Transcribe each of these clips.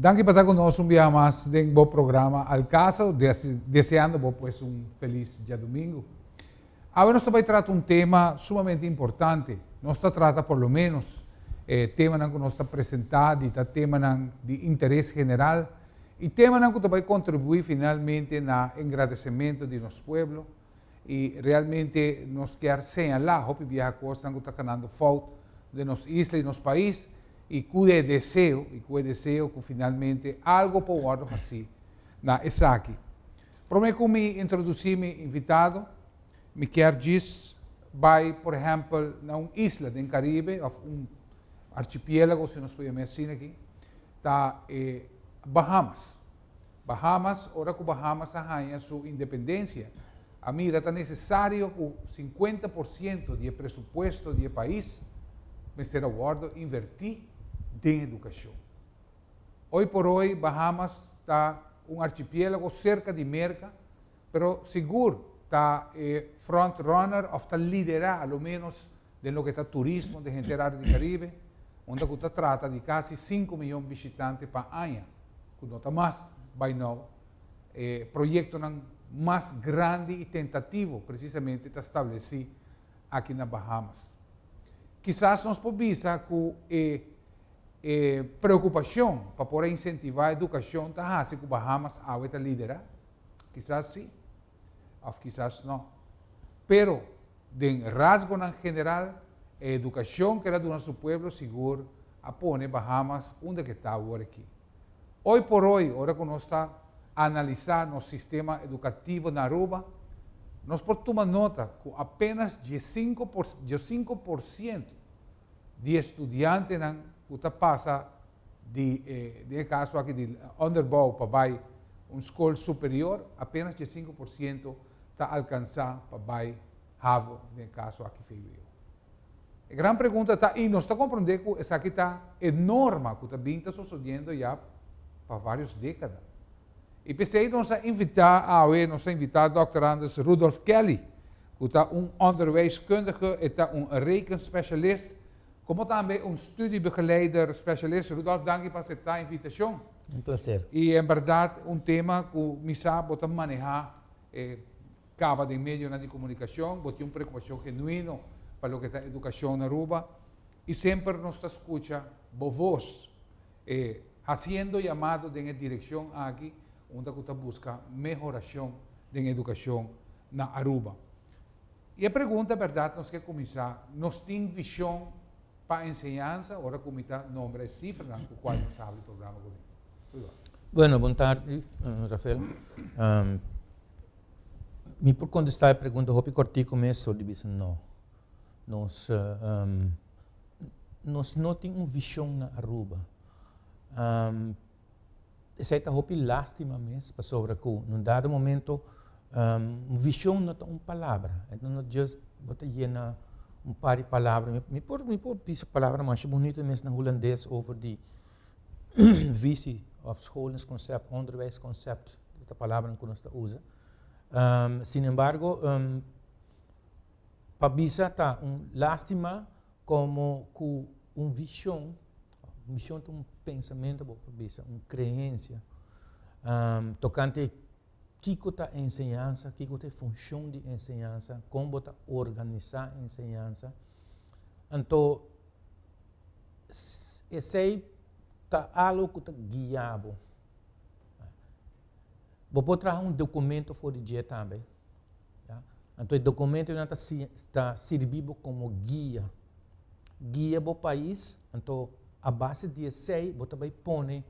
Danki pa ta ku nos un biaha mas den bo programa Al Caso, deseando bo pues un felis diadumingu. Awe nos ta bai trata un tema sumamente importante, nos ta trata por lo menos e temanan ku nos ta presentá di ta temanan di interes general i temanan ku ta bai kontribuí finalmente na engrandecementu di nos pueblo, y realmente nos kier señala hopi bieha cosnan cu ta canando fout den nos isla y nos pais y cu e deseo y cu e deseo cu finalmente algo por wordo haci na esaki. Prome cu mi introduci mi invitado mi kier djis bay por ehempel na un isla den Caribe of un archipielago si nos por yama asina aki ta e Bahamas. Bahamas, Ora ku Bahamas a haña su independensia, a mira ta nesesario ku sinkuenta por sientu di e presupuesto di e pais mester a wòrdu invertí den edukashon. Oi por oi Bahamas ta un archipiélago serka di Merka, pero sigur ta e front runner òf ta liderá aloménos den loke ta turismo di henter área di Karibe, unda ku ta trata di kasi sinku miyon bishitante pa aña, ku no ta mas bai nau, e proyektonan mas grandi i tentativo presisamente ta stablesí aki na Bahamas. Kisas nos por bisa ku e e preokupashon pa por a insentivá edukashon ta hasi ku Bahamas awe ta lidera? Kisas sí. Of kisas no. Pero, den rasgonan general, e educacion cu el a duna su pueblo sigur a pone Bahamas unda cu e ta awor aki. Hoy por hoy, ora cu nos ta analisa nos sistema educativo na Aruba, nos por tuma nota cu apenas diesinco por ciento di e studiantenan ku ta pasa di e, den e kaso aki di onderbouw pa bai un skol superior, apenas dje sinku por siento ta alkansá pa bai havo, den e kaso aki vwo. E gran pregunta ta, i nos ta komprondé ku esaki ta e norma ku ta bin ta sosodiendo ya pa vários dékada. I p'esei nos a invitá awe, nos a invitá dòkter Anders Rudolf Kelly, ku ta un onderwijskundige, e ta un rekenspesialis, komo tambe un studiebegeleider spesialis. Rudolf, danki pa aseptá invitashon. Un plaser. I en bèrdat un tema ku mi sa bo ta manehá kaba den medionan di komunikashon, bo tin un preokupashon genuino pa loke ta edukashon na Aruba, i semper nos ta skucha bo vos. E haciendo yamado den e direccion aki unda cu ta busca mehoracion den educacion na Aruba. Y e pregunta berdad nos ke cuminsa, nos tin vision pa enseñansa ora cu mi ta nombra e cifernan cu cual nos habla e programa cu tin? Rudy. Bueno, bon tardi Rafael. Mi por contesta e pregunta hopi cortico mes so di bisa no. Nos. Nos no tin un vision na Aruba. Esei ta hopi lastima mes pasobra cu na un dado momento un vision no ta un palabra, no just bo ta yena un par di palabra, mi por mi por bisa palabra masha bunito mes na Hulandes over di visie of scholen's concept, onderwijs concept, e ta palabra cu nos ta usa, sin embargo. Pa bisa ta un lastima como cu un vision, un vision ta un pensamento bo por bisa, un creencia, tocante kico ta enseñansa, kico ta e funcion di enseñansa, con bo ta organisa enseñansa, anto esey ta algo cu ta guia bo. Bo por traha un documento for di dje tambe. Ya. Anto e dokumento yonan ta si, ta sirbi bo komo guia. Guia bo pais, anto a base di esei bo ta bai pone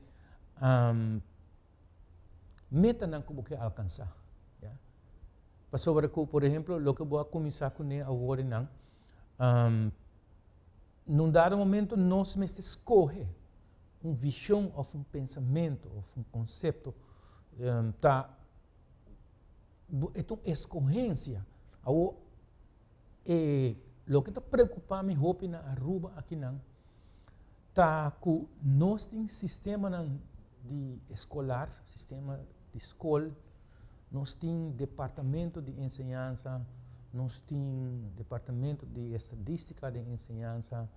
metanan ku bo ke alkansá. Ya. Pasobra ku, por ehemplo, loke bo a kuminsá kuné aworenan, na un dado momento nos mester skohe un vishon òf un pensamentu òf un konsepto ta bo e ta un escogencia. Awor, e loke ta preocupa mi hopi na Aruba akinan ta cu nos tin sistemanan di escolar, sistema di scol, nos tin departamento di enseñansa, nos tin departamento di estadistica den enseñansa,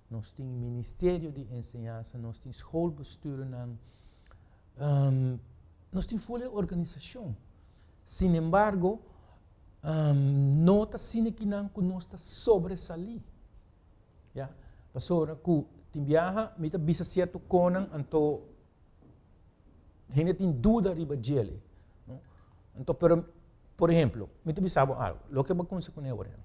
nos tin ministerio di enseñansa, nos tin schoolbesturennan. Nos tin folia di organisashon, sinembargo, no ta asina kinan ku nos ta sobresalí. Ya, pasobra ku tin biaha mi ta bisa sierto konan anto hende tin duda riba djel ei. Anto, pero, por ehemplo, mi ta bisa bo algu, loke bo a kumsa ku na e ora ya.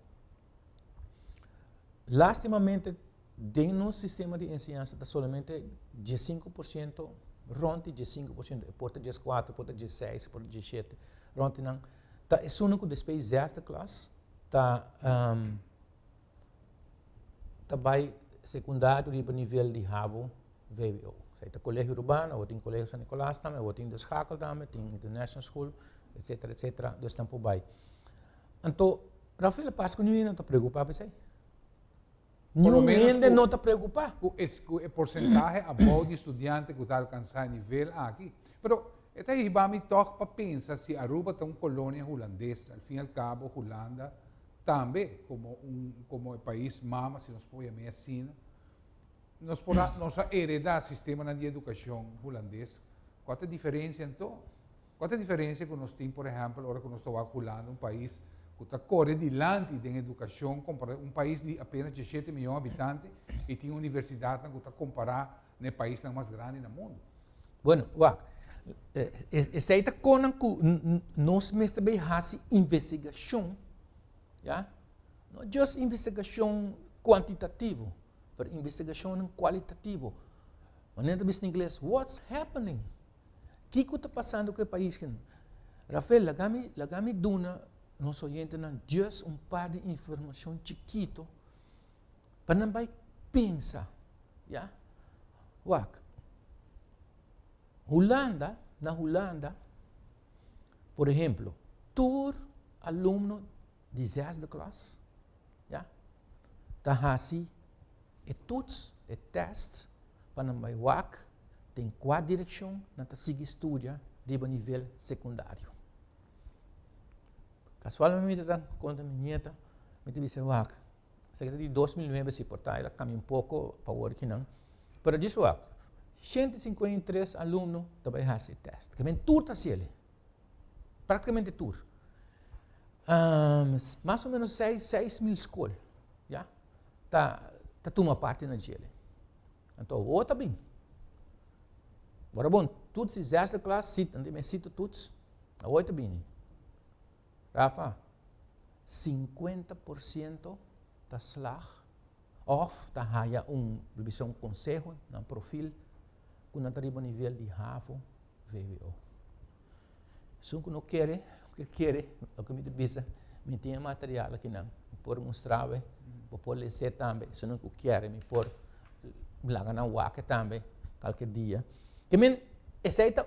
Lastimamente. Den nos sistema di enseñansa ta solamente diesinco por ciento, rond di diesinco por ciento, e por ta dieskuater, por ta diesseis, por ta diesshete, rond di nan, ta esunnan ku despues di zesde klas ta um ta bai sekundario riba nivel di hbo, vwo. Sa e ta Colegio Urbano, awo tin Colegio San Nicolas tambe, awo tin De Schakel tambe, tin International School, etsetera, etsetera, dus nan por bai. Anto, Rafael a pasa ku niñonan ta preokupa pa esei. Por lo menos ku. Niun hende no ta preokupá. Ku e, ku e porsentahe abou di studiante ku ta alkansá e nivel aki. Pero e ta hiba mi tòg pa pensa si Aruba ta un kolonia hulandes, al fin al kabo Hulanda tambe komo un, komo e pais mama, si nos por yam'é asina, nos por a, nos a eredá sistemanan di edukashon hulandes, kua ta diferensia anto? Kua ta diferensia ku nos tin, por ehèmpel, ora ku nos ta wak Hulanda, un pais ku ta kore dilanti den edukashon kompará un pais di apénas djeshete mion habitante i tin universidatnan ku ta kompará na e paisnan mas grandi na mundu? Bueno, wak. Esei ta konan ku nos mester bai hasi investigashon, ya, no just investigashon kuantitativo, pero investigashonnan kualitativo. Manera ta bisa na ingles, what's happening? Kiko ta pasando ku e pais ke no? Rafael, laga mi, laga mi duna nos oyentenan just un par di informashon chikito pa nan bai pensa, ya. Wak, hulanda, na hulanda, por ehemplo, tur alumno. di zesde klas, ya, ta hasi e tuts, e tèst, pa nan bai wak den kua direkshon nan ta sigui studia riba nivel sekundario. Kasualmente ta konta mi nieta, mi ta bisa, wak, esaki ta di dos mil nuebe si, por ta kambia un poko pa wor ki nan, pero djis wak, shente i sinkuenta i tres alumno ta bai hasi e tèst, ke men tur ta hasi el. Práktikamente tur. Más o ménos seis, seis mil skol ya ta ta tuma parti na djele. Anto awo ta bini. Bora bon, tuts, disaster class, sit, anto e mes sito tuts, awo e ta bini. Rafa, sinkuenta por siento ta slag òf ta haya un, lo bisa un konseho na profil ku nan ta riba nivel di hafo, vwo. Esun ku no kere, lo ke kere, loke mi ta bisa, mi tin e material akinan, mi por mustra bo e, bo por lesé tambe, esunnan ku kere mi por laga nan wak e tambe kalke dia. Ke men, esei ta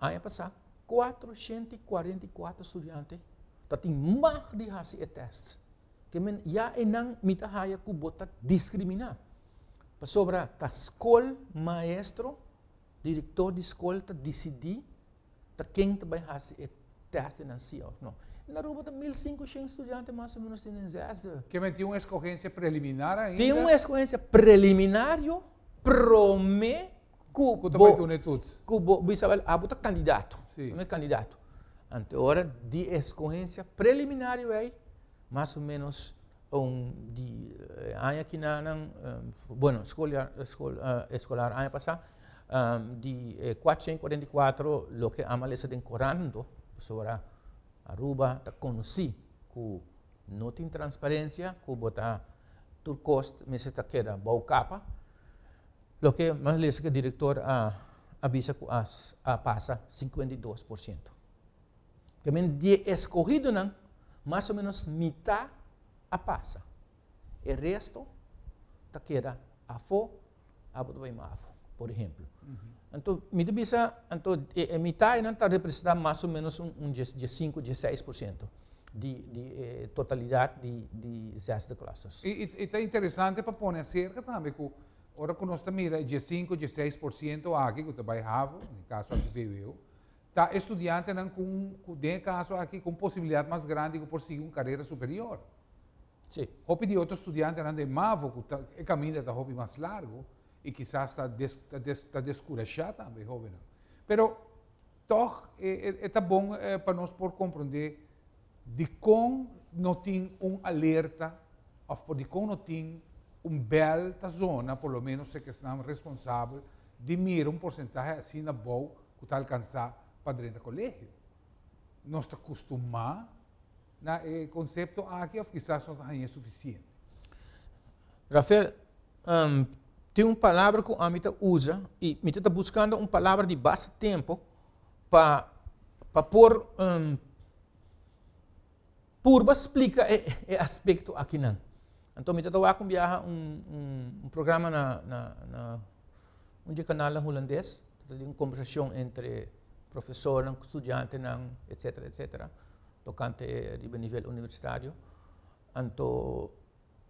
Aña pasá, kuatrociento i kuarenta i kuater studiante ta tin mag di hasi e tèst. Ke men ya einan mi ta haya ku bo ta diskriminá. Pasobra ta skol, maestro, direktor di skol ta disidí ta ken ta bai hasi e tèst di nan sia òf nò. Den Aruba ta mil sinku shen studiante mas o ménos tin den zèsde. Ke men tin un eskohensia preliminar ainda? Tin un eskohensia preliminario promé ku bo ku bo bisa bal abo ta kandidato no e kandidato anto e ora di e skohensia preliminario ei mas o menos un di aña ki na nan bueno skol eskolar aña pasa di e kuatrocientos cuarenta y cuatro loke ama lesa den koranto pasobra ora Aruba ta konosi ku no tin transparensia ku bo ta tur kos mester ta keda bou kapa. Loke mas lesa ku e direktor a bisa ku a pasa, sinkuenta i dos por siento. Ta bien, di e eskohidonan, mas o menos mitá a pasa. E resto ta keda afó, abo ta bai mas afó, por ehemplo. Anto, mi ta bisa, anto, e, e mitá einan ta representá mas o menos un, un dies, diesinku, diesseis por siento di, di e totalidat di, di zesde clusters. I, i, i ta interesante pa pone aserka tambe ku. Ora ku nos ta mira e diesinku, dieseis por siento aki ku ta bai havo, den e kaso aki VWO, ta e studiantenan ku un, ku den e kaso aki ku un posibilidat mas grandi ku por sigui un karera superior. Sí. Hopi di otro studiantenan den mavo ku ta, e kaminda ta hopi mas largu i kisas ta des, ta des, ta deskurashá tambe, hóbennan. Pero, Tòg e ta bon pa nos por komprondé dikon no tin un alerta òf por dikon no tin un bèl ta zona, por lo ménos seki esnan responsabel di mira un porsentahe asina bou ku ta alkansá pa drenta kolegio. Nos ta kustumá na e konsepto aki òf kisas nos a haña sufisiente? Rafael, tin un palabra ku ami ta usa i mi ta buskando un palabra di basta tempu pa pa por purba splika e e aspekto akinan. Anto mi ta tawak un biaha un un programa na na na un di e kanalnan hulandes, ta tin un kombersashon entre profesornan ku studiantenan etsetera etsetera. tokante riba nivel universitario, anto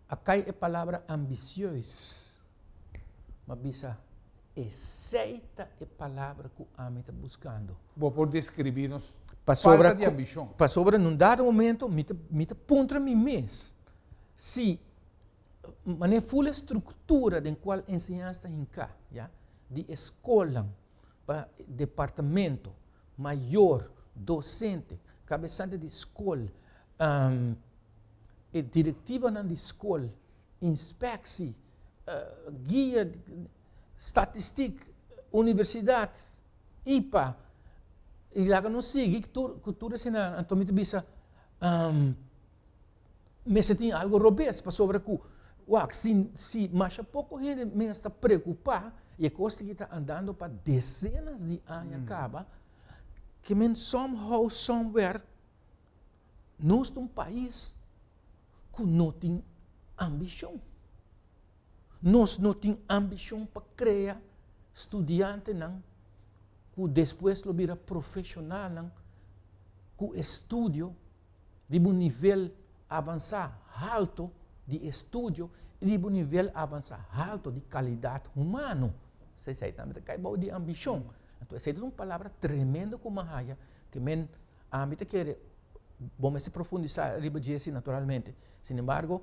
a kai e palabra ambicioes, m'a bisa, Esei ta e palabra ku ami ta buskando. Bo por deskribí nos falta di ambishon? Pasobra na un dado momento mi ta mi ta puntra mi mes si manera ful e struktura den kual enseñansa ta hinká, ya, di e skolnan. pa departamento, mayor, docente, cabesante di scol, e directivanan di scol, inspecci, guia, statistic, universidad, ipa, y laga nos sigui cu tur esaki nan anto mi ta bisa. mester tin algo robes pasobra ku wak si si masha poko hende mes ta preokupa i e kos aki ta andando pa desenas di aña kaba ke men some how some where nos ta un pais ku no tin ambishon. Nos no tin ambishon pa krea studiantenan ku despues lo bira profeshonalnan ku estudio riba un nivel avansá haltu di estudio i riba un nivel avansá haltu di kalidat humano. So esei tambe ta kai bou di ambishon. Anto esei ta un palabra tremendo ku m'a haya ku men ami ta kere bo mester profundisá riba dje si naturalmente. Sinembargo.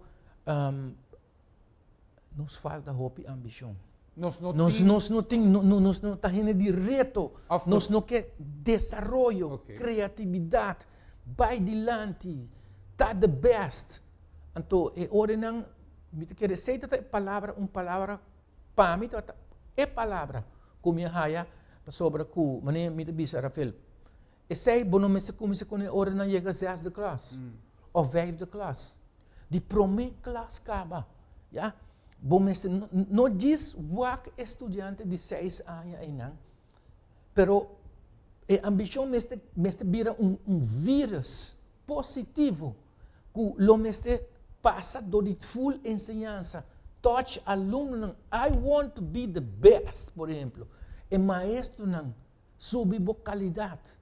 nos falta hopi ambishon. Nos no nos, tin... nos no tin, no, no, nos no ta hende di reto. Of nos no ke desaroyo, okay. creatividad, bai dilanti, ta the best. Anto e orenan, mi te kere sei ta e palabra, un palabra, pa mi ta e palabra ku mi haya, pasobra ku, mane mi te bisa Rafael, Esei bo no mester kuminsá ku nan ora nan yega zesde klas òf vijfde klas. Di promé klas kaba, ya, bo mester, no djis wak e studiante di seis aña einan, pero e ambishon mester mester bira un un vírùs positivo ku lo mester pasa dor di ful enseñansa, tòch alumnonan, I want to be the best, por ehemplo, e maestronan subi bo kalidat,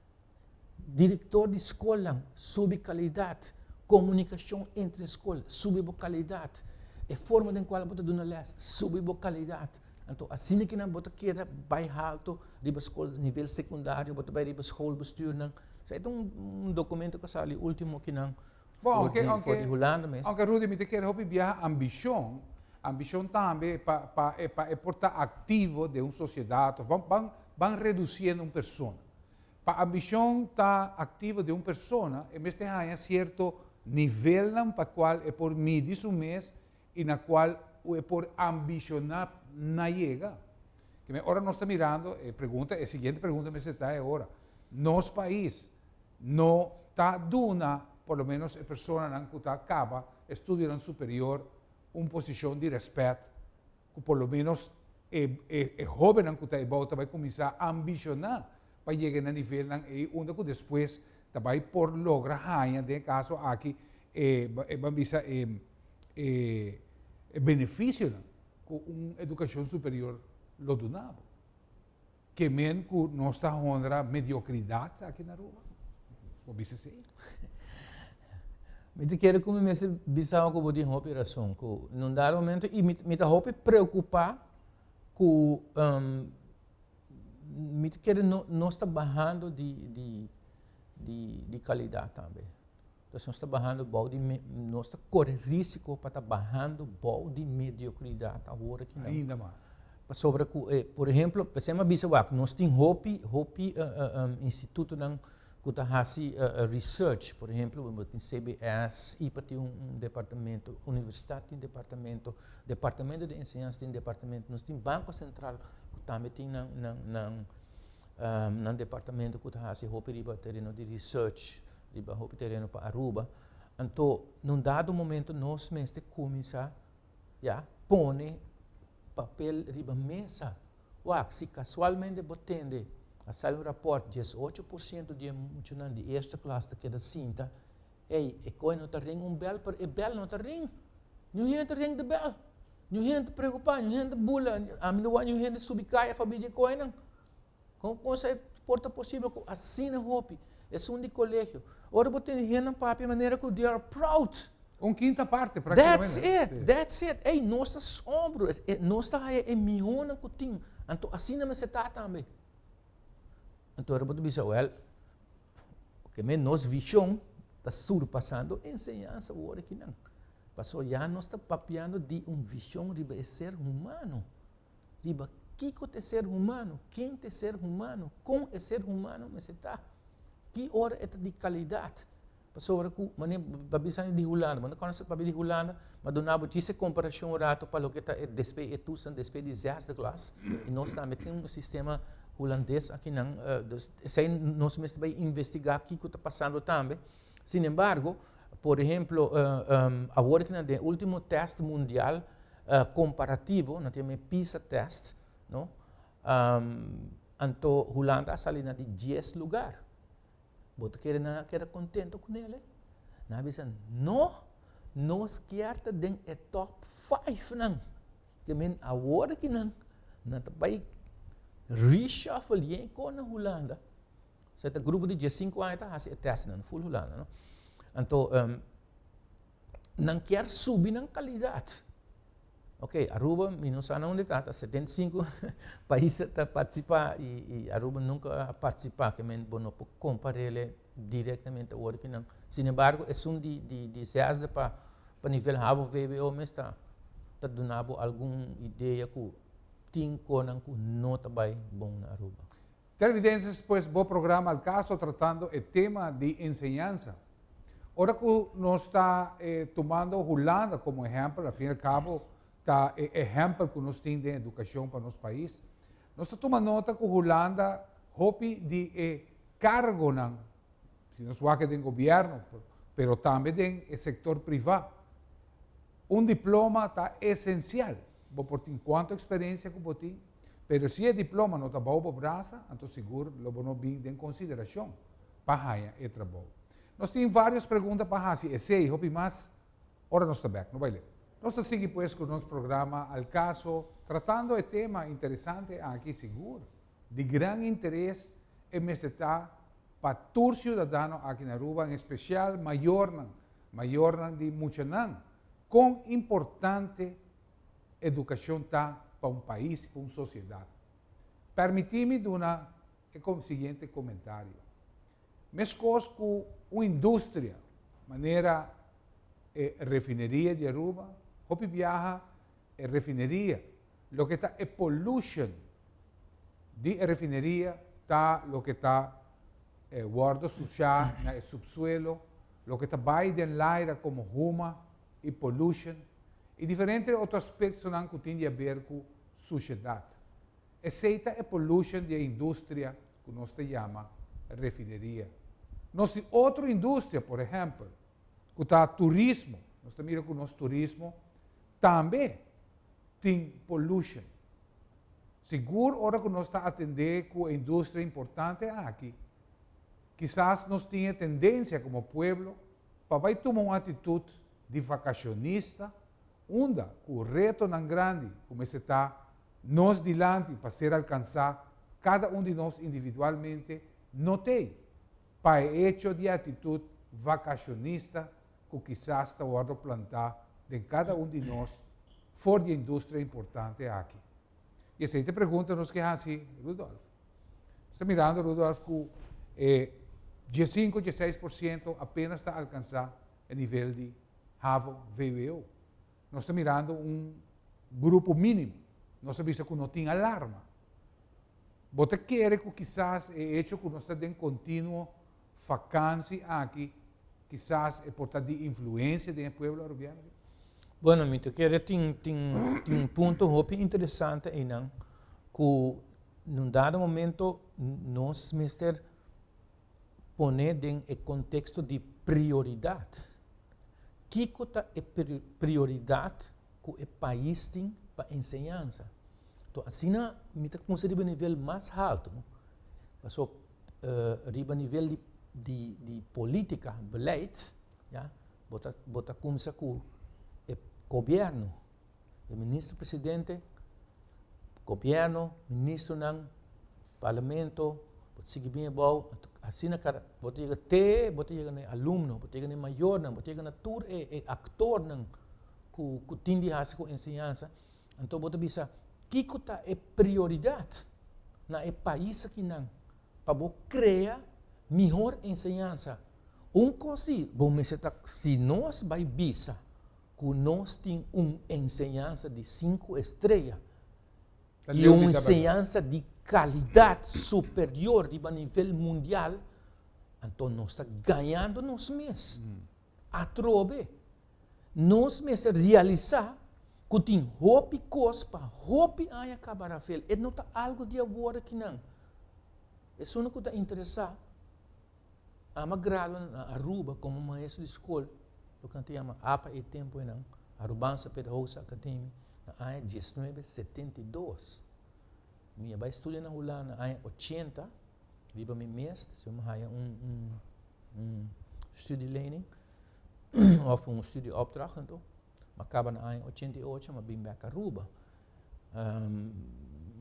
direktor di skolnan subi kalidat, komunikashon entre skol subi bo kalidat, e forma den kual bo ta duna lès subi bo kalidat. Anto asina kinan bo ta keda bai haltu riba skol nivel sekundario, bo ta bai riba skol bestuurnan. Sa e ta un dokumento ku a sali ultimo kinan Bon, aunke, aunke, for di Hulanda mes. Aunke Rudy mi te kere hopi biaha ambishon, ambishon tambe pa, pa, e, pa e por ta aktivo den un sosiedat of ban, ban, ban redusiendo un persona. Pa ambishon ta aktivo den un persona e mester haña sierto nivelnan pa kual e por midi su mes i na kual ku e por ambishoná na yega. Kimen ora nos ta mirando e pregunta, e siguiente pregunta mester ta e ora, nos pais, no ta duna por lo menos e personanan ku ta kaba e studionan superior un posishon di rèspèt, ku por lo menos e e hóbennan ku ta ebou ta bai kuminsá ambishoná pa yega na nivelnan ei unda ku despues ta bai por logra haña den e kaso aki e e ban bisa e e e benefisionan ku un edukashon superior lo dunabo. ke men ku nos ta honra mediokridat aki na Aruba? Bo bisa sí? Mi ta kere ku mi mester bisa bo ku bo tin hopi rason, ku na un dado momento, i mi, mi ta hopi preokupá ku um, mi ta kere no, nos ta bahando di, di, di, di kalidat tambe. Entonces nos ta bahando bou di nos ta kore risiko pa ta bahando bou di mediokridat awor aki nan. Ainda mas. Pasobra ku e, por ehemplo, p'esei mi a bisa wak, nos tin hopi, hopi institutonan ku ta hasi research, por ehemplo, bo tin CBS, ipa tin un departamento, universitat tin departamento, departamento di enseñansa tin departamento, nos tin banko sentral ku tambe tin nan, nan, nan, nan departamento ku ta hasi hopi riba tereno di research. riba hopi tereno pa Aruba, anto na un dado momento nos mester cuminsa ya pone papel riba mesa, wak si casualmente bo tende a sali un raport diesocho por ciento di e muchanan di eerste klas ta keda sinta, ey e koe no ta ring un bel pero e bel no ta ring, niun hende ring di bel, niun hende ta preocupa, niun hende ta bula, ami no wou niun hende subi caya fa biji e koenan. Kon konsa e por ta posibel ku asina hopi? Esun di kolegio. Ora bo tene hennan papia manera ku they are proud. Un kinta parte That's it, that's it. Ey, nos ta sombro, nos ta haya e mihonan ku tin. Anto asina mester ta tambe. Anto ora bo ta bisa, wèl, ke men nos vishon ta surpasando e enseñansa wòrdu kinan. Pasó ya nos ta papiando di un vishon riba e ser humano. riba kiko ta e ser humano, ken ta e ser humano, kon e ser humano mester ta, ki ora e ta di kalidat. Pasobra ku manera bo a bisa nan di Hulanda, bo no konoce papia di Hulanda, ma duna abo djis e komparacion un ratu pa loke ta e despe e tusan despe di zesdeglas, i nos tambe tin un sistema hulandes akinan, esei nos mester bai investiga kiko ta pasando tambe. Sin embargo, por ehemplo, awor ki nan den ultimo test mundial komparativo, nan ta yama e pisa test, no, anto Hulanda a sali na di dies lugar. Bo ta kere nan a keda kontento ku nele? Nan a bisa, no, nos kier ta den e top fijfnan. Ke men awor ki nan, nan ta bai reshuffle yen kon na Hulanda, So e ta grupo di dies sinku aña ta hasi e tèstnan ful Hulanda, no. Anto nan kier subi nan kalidat. Ok, Aruba mi no sa na unde ta, ta setenta i sinku pais ta ta partisipá i Aruba nunka a partisipá, ke men bo no por komparele direktamente awor ki nan. Sin embargo esun di di di zèsde pa pa nivel habo vbo mes ta ta duna bo algun idea ku tin konan ku no ta bai bon na Aruba. Televidenses pues bo programa El Caso tratando e tema di enseñansa. Ora cu nos ta tumando Hulanda como ehempel, al fin y al cabo ta e ehempel cu nos tin den educacion pa nos pais, nos ta tuma nota cu Hulanda hopi di e cargonan, si nos wak den gobierno pero tambe den e sector priva, un diploma ta esencial, bo por tin cuanto experiencia cu bo tin, Pero si e diploma no ta bou bo brasa, anto sigur lo bo no bin den consideracion pa haya e trabou. Nos tin varios pregunta pa haci esey, hopi mas, ora nos ta bek. No bai lek. Nos ta sigui pues cu nos programa Al Caso, tratando e tema interesante aki, sigur di gran interes e mester ta pa tur ciudadano aki na Aruba, en especial mayornan, mayornan di muchanan. Con importante. educacion ta pa un pais, pa un sociedad. Permiti mi duna e siguiente comentario. Mescos cu un industria manera e refineria di Aruba, hopi biaha e refineria, loke ta e pollution di e refineria ta loke ta wordo sucia na e subsuelo, loke ta bay den laira como huma y pollution. i diferente otro aspektonan ku tin di aber ku sushedat. Esei ta e polushan di e industria ku nos ta yama refineria. Nos tin otro industria, por ehèmpel, ku ta turismo, nos ta mira ku nos turismo tambe tin polushan. Sigur ora ku nos ta atendé ku e industria importante aki, kisas nos tin e tendensia komo pueblo pa bai tuma un atitut di vakacionista, unda cu retonan grandi cu mester ta nos dilanti pa ser alcansa cada un di nos individualmente no t'ey pa e hecho di actitud vakacionista cu kisas ta wordo planta den cada un di nos for di e industria importante aki. Y esey t'e pregunta nos ke haci Rudolf. Nos ta mirando Rudolf cu e dje-sinku, dje-seis por ciento apenas ta alcansa e nivel di havo, VWO. Nos ta mirando un grupo minimo. Nos ta bisa cu no tin alarma. Bo ta kere cu kisas e hecho cu nos ta den continuo vakansi aki, kisas e por ta di influencia den e pueblo Arubiano aki? Bueno, mi ta kere tin, tin, tin punto hopi interesante eynan cu na un dado momento nos mester. pone den e konteksto di prioridat. Kiko ta e prioridat ku e pais tin pa enseñansa? Tò, asina mi ta kumsa riba nivel mas haltu, paso riba nivel di di di polítika, beleid, ya, bo ta bo ta kumsa ku e gobièrnu. di minister presidente, gobierno, ministronan, parlamento, bo ta sigui bini abou, asina kara, bo ta yega te bo ta yega na e alumnonan, bo ta yega na e mayornan, bo ta yega na tur e e actornan ku ku tin di hasi ku enseñansa, anto bo ta bisa kiko ta e prioridad na e pais akinan pa bo krea mihor enseñansa. Un kos si, bo mester ta si nos bai bisa ku nos tin un enseñansa di sinku estreya i un enseñansa di kalidat superior riba nivel mundial, anto nos ta gañando nos mes. Atrobe, nos mester realisá ku tin hopi kos pa hopi aña kaba Rafael. E no ta algu di awor aki nan. Esun ku ta interesá. Ama a gradua na Aruba como maestro di scol, lo can ta yama apa e tempo enan, Arubanse Pedagogische Academie, na aña diesnuebe setenta i dos. Mi a bai studia na Hulanda na aña ochenta, riba mi mes, ta siñor mi haya un, un, un studielenning, of un studieopdracht anto, Ma kaba na aña ochenta i ocho mi a bin bek Aruba.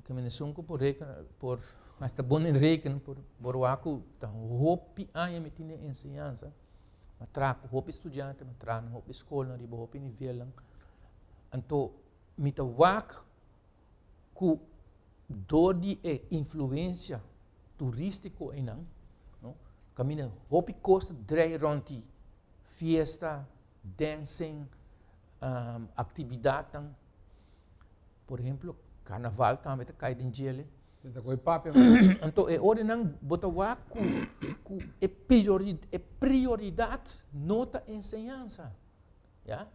Te men esun ku por rekena, por hasta bo ni rekena, por bo roa ku ta hopi aña mi tin den enseñansa, mi a traha ku hopi studiante, mi a traha na hopi skolnan, riba hopi nivelnan. Anto mi ta wak ku dor di e influensia turístiko einan, no, kaminda hopi kos ta dreia rònt di fiesta. densen actividadnan, por ehemplo carnaval tambe ta cay den djele, enton e ora enan bo ta wak cu e prioridad no ta enseñanza, ya,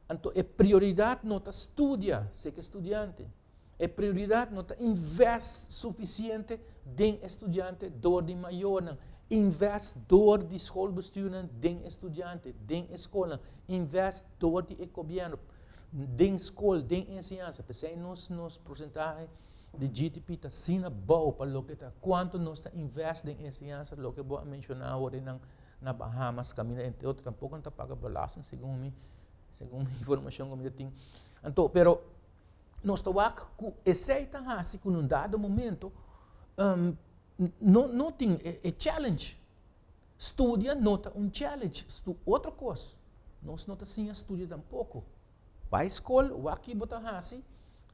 enton e prioridad no ta studia, sek estudiante. E prioridad no ta invest suficiente den estudiante door di mayornan. Invest door di schoolbestuurnan den estudiante, den escoolnan. Invest door di e gobierno den school, den enseñanza. Pesey nos, nos porcentahe di GDP ta sina bouw pa loke ta cuanto nos ta invest den enseñanza, loke bo a menciona awor nan na Bahamas caminda entre otro tampoco nan ta paga belasting segun mi, segun mi informacion cu mi ta tin. Anto, pero. nos ta wak ku esei ta hasi ku un dado momento no tin e challenge. Studia no ta un challenge, otro kos. Nos no ta siña studia tampoko. Bai skol, wak ke bo ta hasi,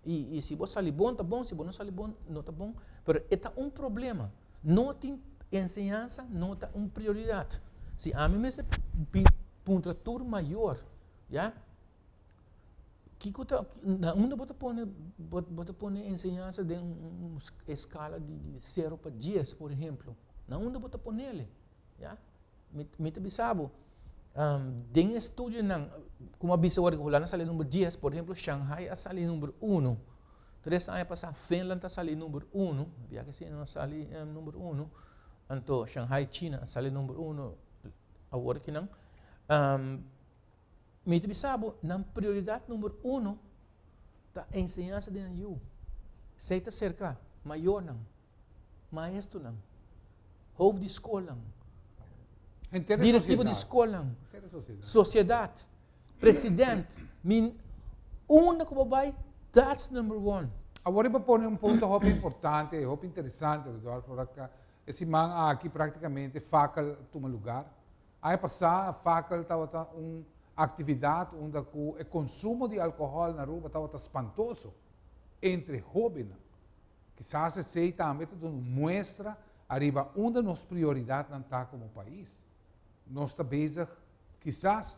i si bo sali bon ta bon, si bo no sali bon no ta bon. Pero e ta un problema. No tin, enseñansa no ta un prioridat. Si ami mester puntra tur mayor, ya. kiko ta na unda bo ta pone bo ta pone enseñansa den un eskala di sero pa dies por ehemplo na unda bo ta ponel ya mi ta bisa bo den e estudio nan como a bisa ora hulanda a sali numero dies por ejemplo shanghai a sali numero uno tres aña pasa finland a sali numero uno bia ke siña no a sali numero uno anto shanghai china a sali numero uno awor akinan. Mi ta bisa bo, nan prioridat number uno ta enseñansa di nan yu. Esei ta serka mayornan, maestrunan, hof di skolnan, directivo di skolnan, sociedad, president, mi unda ku bo bai, that's number one. Awor riba pone un punto hopi importante i hopi interesante, Rodolfo, e siman aki praktikamente fakel tuma lugar. Aña pasá Fakel tabata un aktividat unda ku e konsumo di alkohòl na Aruba tabata spantoso entre hóbennan. Kisas esei tambe ta duna un muestra ariba unda nos prioridatnan ta komo pais. Nos ta bezig kisas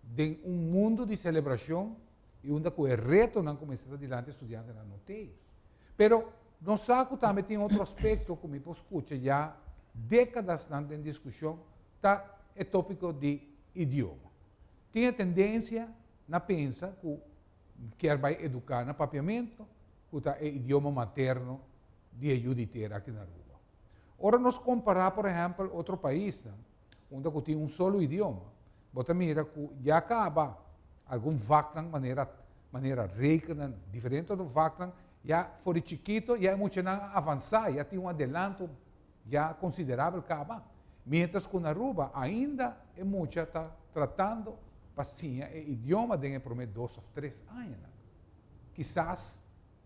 den un mundu di selebrashon i unda ku e retonan ku mester ta dilanti estudiantenan no t'ei. Pero. Nos sa cu tambe tin otro aspecto cu mi por scucha ya decadasnan den discusion, ta e topico di idioma. Tin e tendencia na pensa cu kier bay educa na Papiamento, cu ta e idioma materno di e yu di tera aki na Aruba. Ora nos compara por ehempel otro paisnan unda cu tin un solo idioma, bo ta mira cu ya caba algun vaknan manera manera rekenan, diferente otro vaknan, Ya for di chikito, ya e muchanan a avansá, ya tin un adelanto ya konsiderabel kaba. Miéntras ku na Aruba ainda e mucha ta tratando pa siña e idioma den e promé dos òf tres añanan. Kisas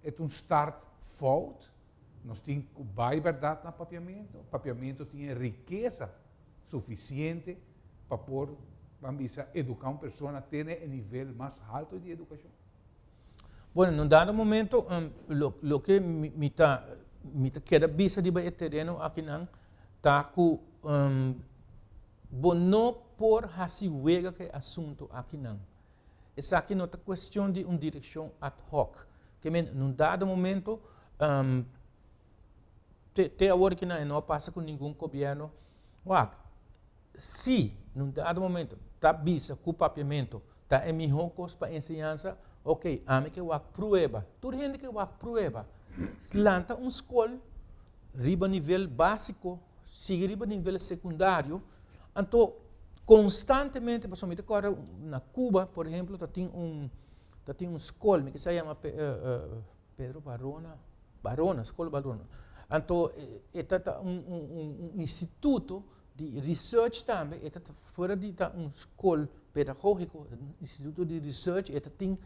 e ta un start fout, nos tin ku bai bèrdat na papiamentu, papiamentu tin e rikesa sufisiente pa por, ban bisa, eduká un persona te na e nivel mas halto di edukashon. Bueno, na un dado momento loke mi ta keda bisa riba e tereno akinan ta ku bo no por hasi wega ku e asuntu akinan. Esaki no ta kuestion di un direkshon ad hoc, ke men na un dado momento te awor kinan e no a pasa ku ningun gobièrnu wak. si nun dado momento ta bisa cu papiamento ta e mihor cos pa enseñansa, ok, ami ke wak prueba. Tur hende ke wak prueba, lanta un school riba nivel basico, sigui riba nivel secundario, anto constantemente, pasobra mi ta corda na Cuba, por ejemplo, ta tin un, ta tin un school, mi kisa yama Pe- eh, eh, Pedro Barona, Barona, school Barona, anto e ta un instituto. Di research tambe, e ta fuera di ta un scol pedagógiko, e ta un instituto di research, e ta tin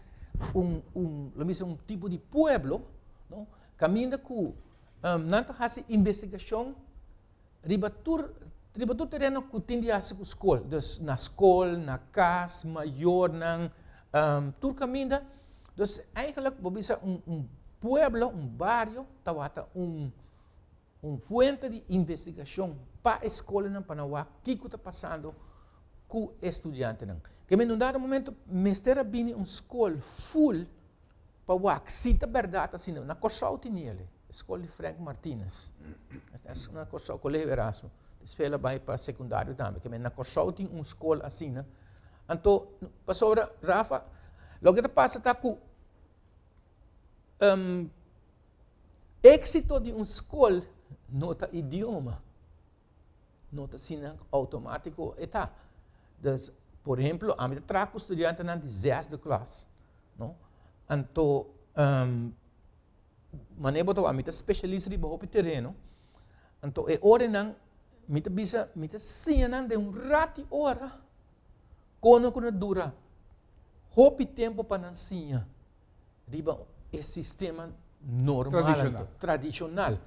un, un, lo mi se un tipo di pueblo, no? Caminda cu um, nan ta haci investigacion riba tur, riba tur terreno cu tin di haci cu scol. Dus na scol, na cas, mayornan, um, tur caminda. Dus eigenlijk, bo bisa un, un pueblo, un bario, tawata un. Un fuente di investigashon pa e skolanan pa nan wak kiko ta pasando ku e studiantenan. Ke men un dado momento mester a bini un skol ful pa wak si ta bèrdat asina. Na Kòrsou tin e ale, e skol di Frank Martinez. Na Kòrsou, Koleho Erasmo. Despè el a bai pa sekundario tambe. Ke men na Kòrsou tin un skol asina. Anto, pasobra, Rafa, loke ta pasa ta ku. Um, éxito di un skol no ta idioma, no ta sina automático e ta. Dus, por ehemplo, ami ta traha ku studiantenan di zesde klas, no? Anto, um, mane bo ta wak, mi ta specialist riba hopi tereno, anto e orenan mi ta bisa, mi ta siña nan den un rati ora kono ku na dura hopi tempu pa nan siña. riba e sistema normal anto, tradicional.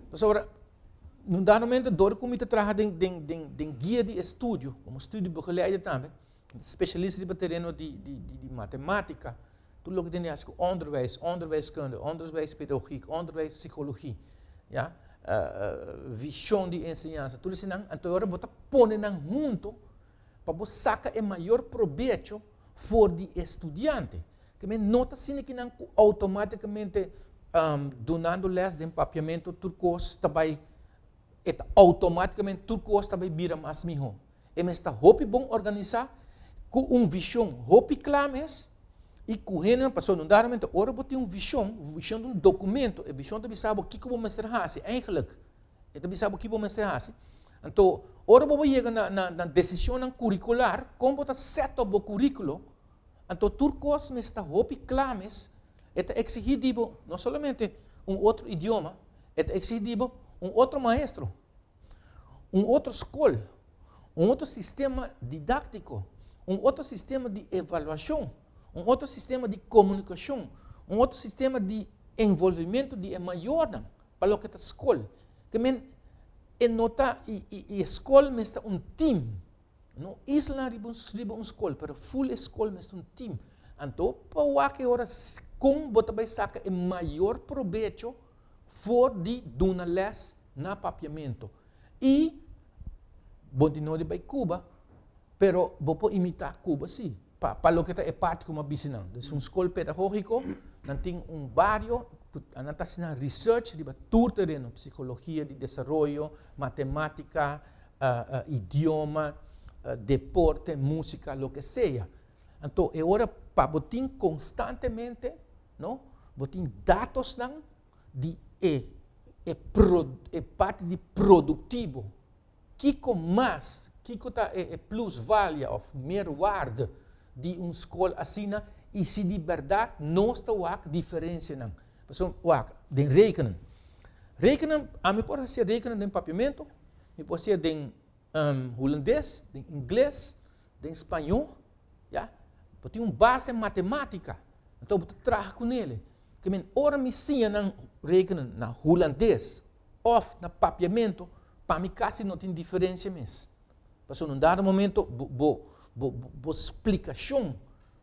Pasobra, na un dado momento, dor ku mi ta traha den, den, den, den guia di estudio, komo studio begeleide tambe, specialist riba tereno di, di, di, di matematica, tur loke tene haci ku onderwijs, onderwijskunde, onderwijspedagogiek, onderwijspsicologie, ya, vision di enseñansa, tur esei nan, anto e ora bo ta pone nan hunto. pa bo saka e mayor probecho for di e studiante. Te men no ta sini kinan ku automáticamente um, donando les den papiamento tur kos ta bai e ta automáticamente tur kos ta bai bira mas miho. E mes ta hopi bon organisa ku un vision hopi kla mes i ku hende paso no daramente ora bo tin un vision, vision un dokumento, e vision ta bisa bo kiko bo mester hasi eigenlijk. E ta bisa bo ki bo mester hasi. Anto, ora bo yega na, na, na decisionnan curricular, con bo ta set up bo curriculo, anto tur cos mes ta hopi cla mes, e ta exigi di bo, no solamente un otro idioma, e ta exigi di bo un otro maestro, un otro school, un otro sistema didactico, un otro sistema di evaluacion, un otro sistema di comunicacion, un otro sistema di envolvimiento di e mayornan. Pa loke ta skol, te men e no ta i i i e skol mes ta un team, no isla riba un riba un skol pero full e skol mes ta un team. Anto pa wak e ora kon bo ta bai saka e mayor probecho for di duna les na Papiamento i bo di no di bai Cuba pero bo por imita Cuba si. Pa pa loke ta e parti ku mi a bisi nan, es un skol pedagogiko, nan tin un bario ku nan ta hasi nan research riba tur tereno, psikologia di desaroyo, matematika, idioma, deporte, musika, loke sea. Anto e ora pa bo tin konstantemente, no, bo tin datosnan di e e e parti di produktivo Kiko mas, kiko ta e e plusvalia òf merwaarde di un skol asina i si di bèrdat nos ta wak diferensianan? Pasobra wak, den rekening, rekening ami por hasié rekening den papiamentu, mi por hasié den hulandes, den ingles, den spañó, ya, bo tin un base matematika, anto bo ta traha ku nele. Ora mi siña nan rekening na hulandes òf na papiamentu, pa mi kasi no tin diferensia mes. Pasobra na un dado momento bo, bo, bo, bo splikashon,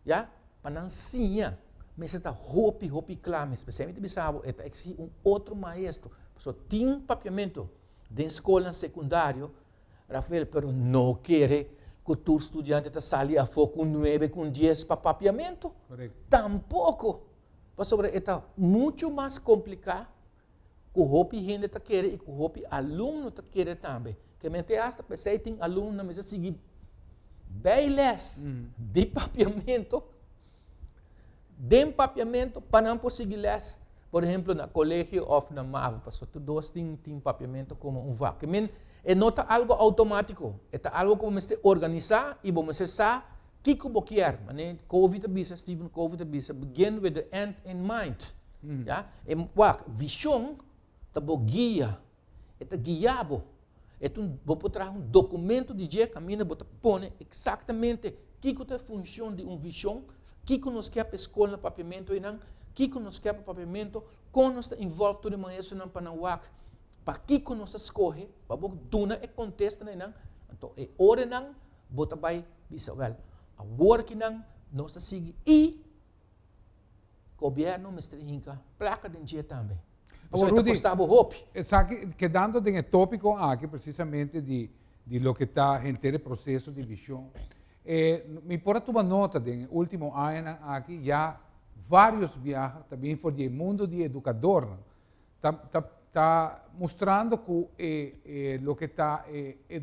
ya, pa nan siña mester ta hopi, hopi kla mes. P'esei mi ta bisa bo, e ta eksigí un otro maestro. Pasobra tin papiamentu den skolnan sekundario, Rafael, pero no kere ku tur studiante ta sali afó ku un nuebe, ku un dies pa papiamentu. Korekto. Tampoko. Pasobra e ta muchu mas kompliká. ku hopi hende ta kere i ku hopi alumno ta kere tambe. Ke men te asta p'esei tin alumno na mester sigui bei les mm. di papiamento den papiamento pa nan por sigui les por ejemplo na colegio of na MAVO paso tu dos tin tin papiamento como un vak. Men e no ta algo automático, e ta algo como mester organizar y bo mester sa Kico bo kier? Mane Covey ta bisa, Stephen Covey ta bisa, begin with the end in mind. Mm. Ya? E, wak, vision ta bo guia. E ta guia bo. E tu, bo por traha un documento di dje camina, bo ta pone exactamente kico ta e funcion di un vision, kico nos kier pa e school na Papiamento einan, kico nos kier pa Papiamento, con nos ta involve tur e maestronan pa nan wak, pa kico nos ta scoge, pa bo duna e contesta na einan. Anto, e oranan. Bo ta bai bisa, Wèl, awor ki nan nos ta sigui i gobièrnu mester hinka plaka den dje tambe. Pasobra e ta kosta bo hopi. Esaki, kedando den e tópiko aki presisamente di di loke ta henter e proseso di vishon, e mi por a tuma nota den e último añanan aki ya vários biaha ta bini for di e mundu di edukadornan ta ta ta mustrando ku e e loke ta e e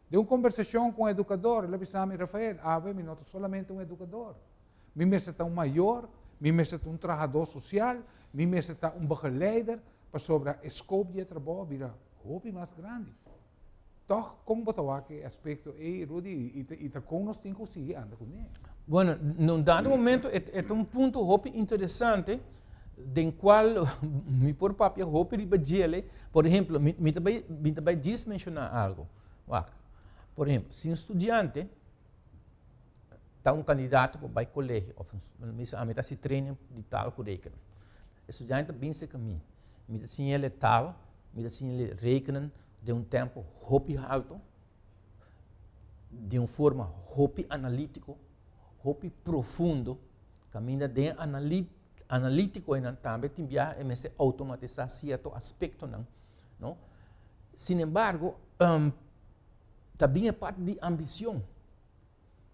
Den un kombersashon ku un edukador, el a bisa mi, Rafael, awe mi no ta solamente un edukador. Mi mester ta un mayor, mi mester ta un trahadó sosial, mi mester ta un begeleider, pasobra e skop di e trabou a bira hopi mas grandi. Tòg, kon bo ta wak e aspekto ei, Rudy, i ta kon nos tin ku sigui anda kuné? Bueno, na un dado momento e ta un punto hopi interesante. den cual mi por papia hopi riba djele. Por ejemplo, mi, mi, te, bai, mi te bai djis menciona algo. Wacht. Por ejemplo, si un studiante ta un candidato pa bai colegio, of mi sa, ami ta si training di tal cu rekenen. E studiante ta binse ka mi, mi ta siñele tal, mi ta siñele rekenen den un tempo hopi halto, den un forma hopi analitico, hopi profundo, kaminda den e analit, analítiko einan tambe tin biaha e mester automatisá sierto aspektonan, no? Sin embargo, um, ta bin e parte di ambición.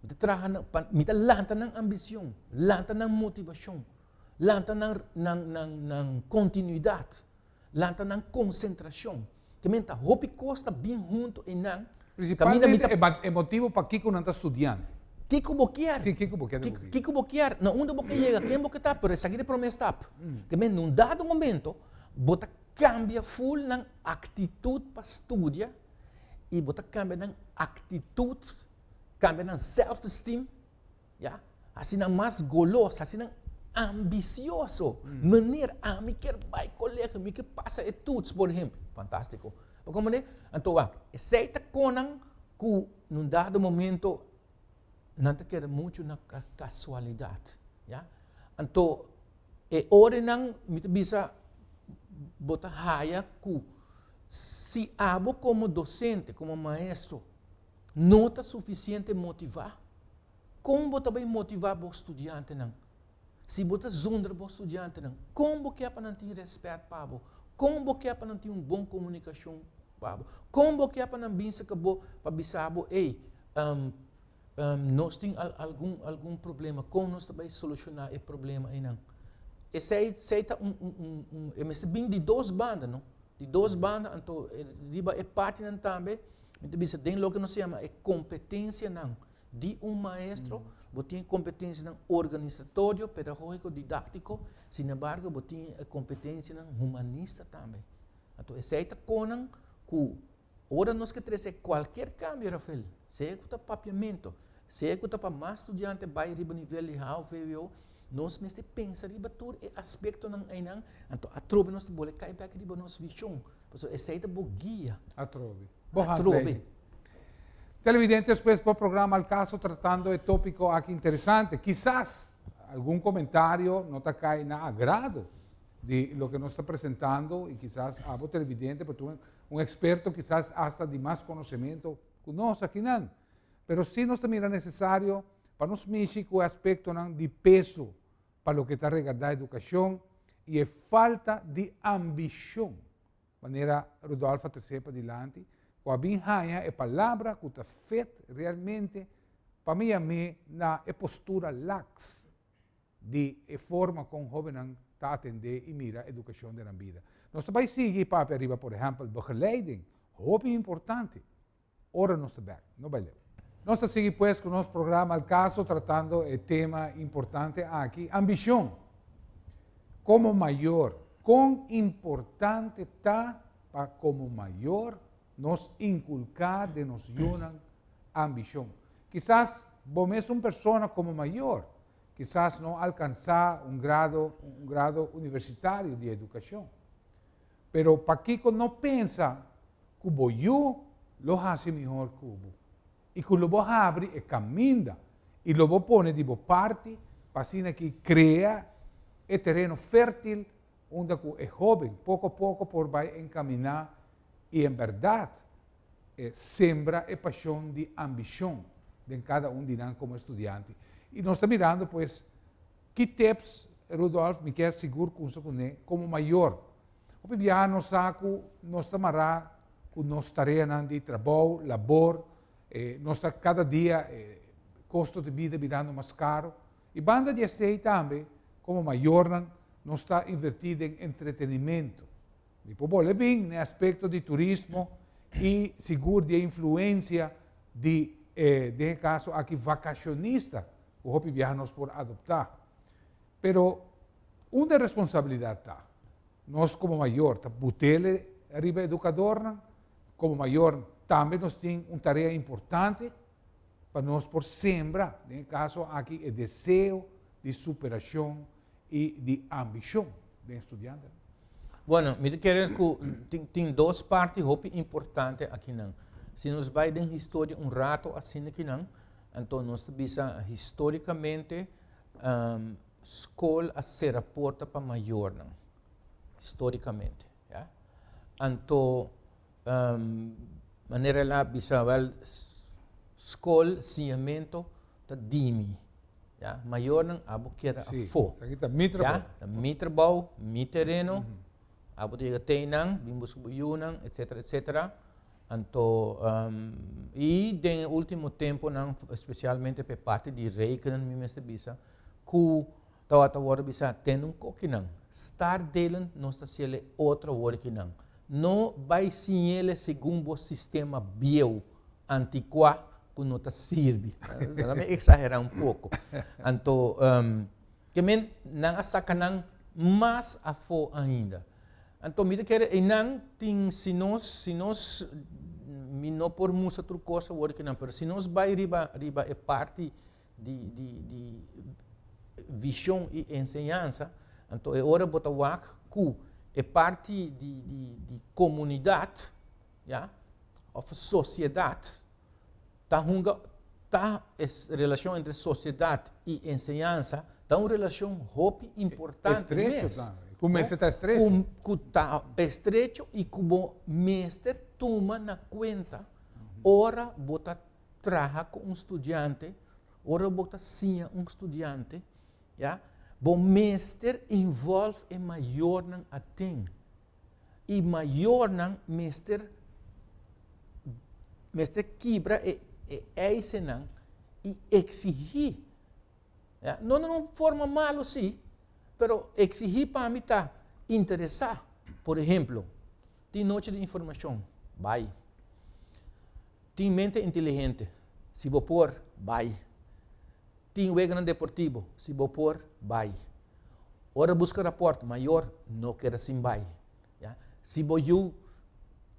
Mi ta traha nan, pa, mi ta lanta nan ambición, lanta nan motivación, lanta nan, nan, nan, nan continuidad. Lanta nan konsentrashon. Te men ta hopi kos ta bin huntu ei nan. Prisipantemente mi ta. E motibu pakiko nan ta studiante. Kiko bo kier. Si, kiko bo kier den bokey. Kiko bo kier, na unda bo ke yega, ken bo ke ta, pero esaki ta e prome stap. Te men na un dado momento bo ta kambia ful nan aktitut pa studia i bo ta kambia nan aktitut, kambia nan self esteem. Ya, hasinan mas goloso, hasinan ambisioso. Manera, ami kier bai kolegio, mi kier pasa e tuts, por ehempel. Fantástiko. Pa kon manera? Anto wak, esei ta konan ku na un dado momento nan ta keda muchu na kasualidat. Ya. Anto, e orenan mi ta bisa bo ta haya ku si abo komo dosente, komo maestro. No ta sufisiente motivá. Kon bo ta bai motivá bo studiantenan? Si bo ta zonder bo studiantenan, kon bo ke pa nan tin rèspèt pa bo? Kon bo ke pa nan tin un bon komunikashon pa bo? Kon bo ke pa nan bin serka bo pa bisa bo, ei, um, um, nos tin al, algun, algun problema, kon nos ta bai solushoná e problema einan? Esei, esei ta un, un, un, un, e mester bin di dos banda, no? Di dos banda, anto riba e partinan tambe. Mi ta bisa den loke nos ta yama e kompetensianan di un maestro, bo tin e kompetensianan organisatorio, pedagógiko, didáktiko, sinembargo bo tin e kompetensianan humanista tambe. Anto esei ta konan ku ora nos ke trese kualker kambio, Rafael, sea ku ta papiamentu, sea ku ta pa mas studiante bai riba nivel di hao, vwo, nos mester pensa riba tur e aspektonan einan, anto atrobe nos ta bole kai bek riba nos vishon. Pasobra esei ta bo guia. Atrobe. Bo hart lei. Televidentes pues bo programa Al Caso tratando e topico aki interesante. Kisas algun comentario no ta cay na agrado di loke nos ta presentando y kisas abo televidente por tur un experto kisas hasta di mas conocemento cu nos akinan. Pero si nos ta mira necesario pa nos mishi cu e aspectonan di peso. pa loke ta regardá edukashon i e falta di ambishon, manera Rudolf a tres'é padilanti, ku a bin haña e palabra ku ta fit realmente pa mi yam'é na e postura laks di e forma kon hóbennan ta atendé i mira edukashon den nan bida. Nos ta bai sigui i papia riba, por ehèmpel, begeleiding, hopi importante. ora nos ta bèk. No bai leu. Nos ta sigui pues ku nos programa Al Caso tratando e tema importante aki, ambishon. Komo mayor, kon importante ta pa komo mayor nos inkulká den nos yunan ambishon? Kisas bo mes un persona komo mayor kisas no alkansá un grado un grado universitario di edukashon. pero pakico no pensa cu bo yu lo haci mihor cu bo y cu lo bo habri e caminda y lo bo pone di bo parti pa asina ki crea e tereno fertil unda cu e hoben poco poco por bay encamina y en berdad sembra e pasion di ambicion den cada un di nan como estudiante y nos ta mirando pues Ki tips, Rudolf, mi kier sigur kunsa ku ne, komo mayor. Hopi biaha nos sa ku nos ta mará ku nos tareanan di trabou, labor, e nos ta kada dia e kosto di bida bidando mas karo. I banda di esei tambe, komo mayornan, nos ta invertí den entretenimentu. Mi por bole bin na e aspekto di turismo i sigur di e influensia di e, den e kaso aki, vakashonista ku hopi biaha nos por adoptá. Pero unda e responsabilidat ta? Nos komo mayor ta butele riba edukadornan, komo mayor tambe nos tin un tarea importante pa nos por sembra den e kaso aki e deseo di superashon y di ambicion den e studiantenan. Bueno, mi ta kere cu tin, tin dos parti hopi importante akinan. Si nos bay den historia un rato asina kinan, anto nos ta bisa historicamente um, school a cera porta pa mayornan. Historicamente. Ya. Anto. manera el a bisa wel skol siñamentu ta dimi ya mayornan abo keda afó ya ta mi trabou mi tereno abo ta yega teynan bin buska bo yunan etcetera etcetera anto y den e ultimo temponan especialmente pa e parti di rekening mi mester bisa ku Tawa ta worde bisa, ten un kokinan, star delen nos ta siele otro workinan. No bai siñele segun bo sistema bieu, antikua ku no ta sirbi. Nan a eksaherá un poko. Anto, ke men nan a saka nan mas afó ainda. Anto mi ta kere einan tin si nos, si nos, mi no por mustra tur kos a workinan, pero si nos bai riba riba e parti, di di di vision y enseñansa anto e ora bo ta wak cu e parti di di di comunidad ya of sociedad ta hunga ta e relacion entre sociedad y enseñansa ta un relacion hopi importante estrecho mes tambe cu mester ta estrecho cu cu ta estrecho y cu bo mester tuma na cuenta ora bo ta traha ku un studiante, ora bo ta siña un studiante, ya, bo mester involv e mayornan aten. I mayornan mester mester kibra e e eisennan i eksigí, ya, no den un forma malu si, pero eksigí pa mi ta interesá. Por ehemplo, tin nochi di informashon, bai. Tin mente inteligente, si bo por, bai. Tin weganan deportibo, si bo por, bai. Ora buska rapòrt mayor, no keda sin bai. Si bo yu,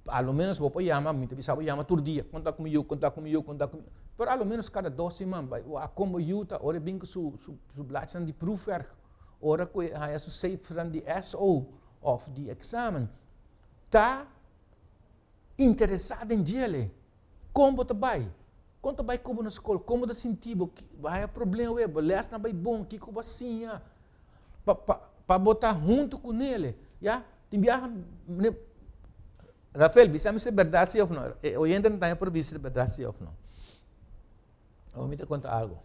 a lo menos bo por yama, mi ta bisa bo yama tur dia, konta ku mi yu, konta ku mi yu, konta ku mi yu. Pero a lo menos kada dos siman bai wak kon bo yu ta ora e bin ku su su blachinan di proefwerk, ora ku e haña su sefran di SO òf di eksamen. Ta. interesá den djel e. Kon bo ta bai? Kon ta bai ku bo na skol? Kon bo ta sinti bo? Haya problem awe? Bo lèsnan bai bon? Kiko bo a siña pa pa pa bo ta huntu ku nel e? Ya? Tin biaha mi Rafael, bisa mi si e bèrdat si òf no. E oyentenan ta haña por bisa si e bèrdat si òf no. Awe mi ta konta algu.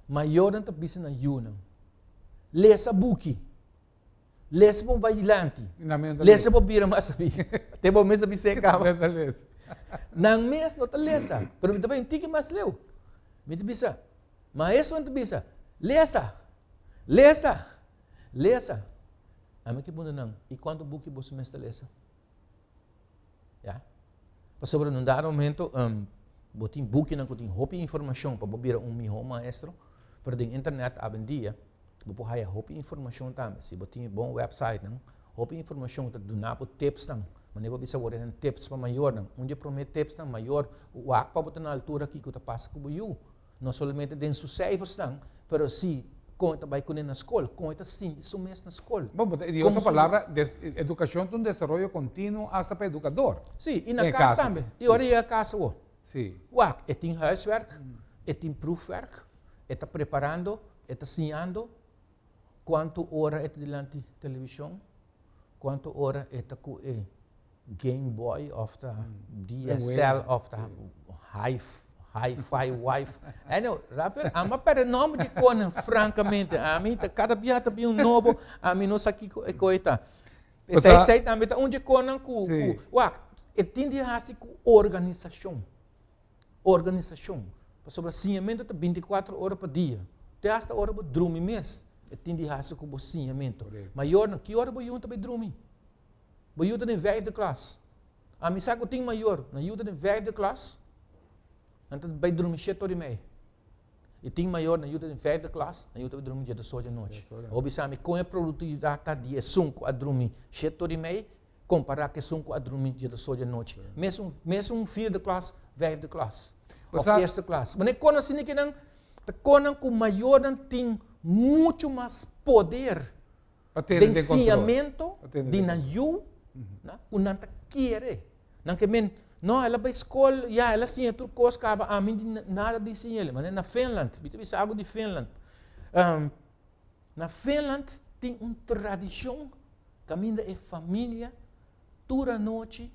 Mayornan ta bisa na yunan, Lesa buki. Les bon bai dilanti. Nan mes no ta lesa. Lesa bo bira mas sabi. Te bo mes a bisa e kaba. Nan mes no ta lesa. Nan mes no ta lesa. Pero mi ta bai un tiki mas leu. Mi ta bisa, Maestro nan ta bisa, Lesa! Lesa! Lesa! Ami a puntra nan, I kuantu buki boso mester lesa? Ya? Pasobra na un dado momento um, bo tin bukinan ku tin hopi informashon pa bo bira un mihó maestro, pero den internet awendia bo por haya hopi informashon tambe. Si bo tin e bon wèpsaitnan, hopi informashon ta duna bo tipsnan, mané bo bisa wòrdu nan tips pa mayornan. Un di e promé tipsnan, mayor, wak pa bo ta na altura kiko ta pasa ku bo yu. no solamente den su seifersnan, pero si kon e ta bai kuné na skol, kon e ta sinti su mes na skol. Bo bo ta di otro palabra, des, edukashon ta un desaroyo kontinuo asta pa edukador. Sí, i na kas tambe. I ora e yega kas awo, wak, e tin huiswerk, e tin proefwerk, e ta preparando, e ta siñando, kuantu ora e ta dilanti televishon, kuantu ora e ta ku e. Game Boy of ta DSL of ta Hi-Fi Wife. Anyhow, Rafael, ami a perde nomber di konan, frankamente. Ami ta, kada bia ta bin un nobo, ami no sa kiko e koi ta. Esei, esei tambe ta un di konan ku, ku, wak, e tin di hasi ku organisashon. Organisashon. Pasobra siñamentu ta binticuatro ora pa dia. Te hasta ora bo drumi mes, e tin di hasi ku bo siñamentu. Mayornan, ki ora bo yunta pa e drumi? Bo yu ta den vijfde klas. Ami sa ku tin mayor, nan yu ta den vijfde klas, nan ta bai drumi shet ora i mei. I tin mayor, nan yu ta den vijfde klas, nan yu ta bai drumi djietos ora di nochi. Bo bisa mi kon e produktividat ta di esun ku a drumi shet ora i mei kompará ku esun ku a drumi djietos ora di nochi. Mes un, mes un vierde klas, vijfde klas, òf eerste klas. Bo no e kon asina di ke nan ta kon nan ku mayornan tin muchu mas poder. den siñamento di nan yu ku nan ta kere. Nan ke men, no, el a bai skol, ya, el a siña tur kos, kaba ami nada di siña el. Manera na Finland, mi ta bisa algu di Finland. na Finland tin un tradishon kaminda e familia tur anochi.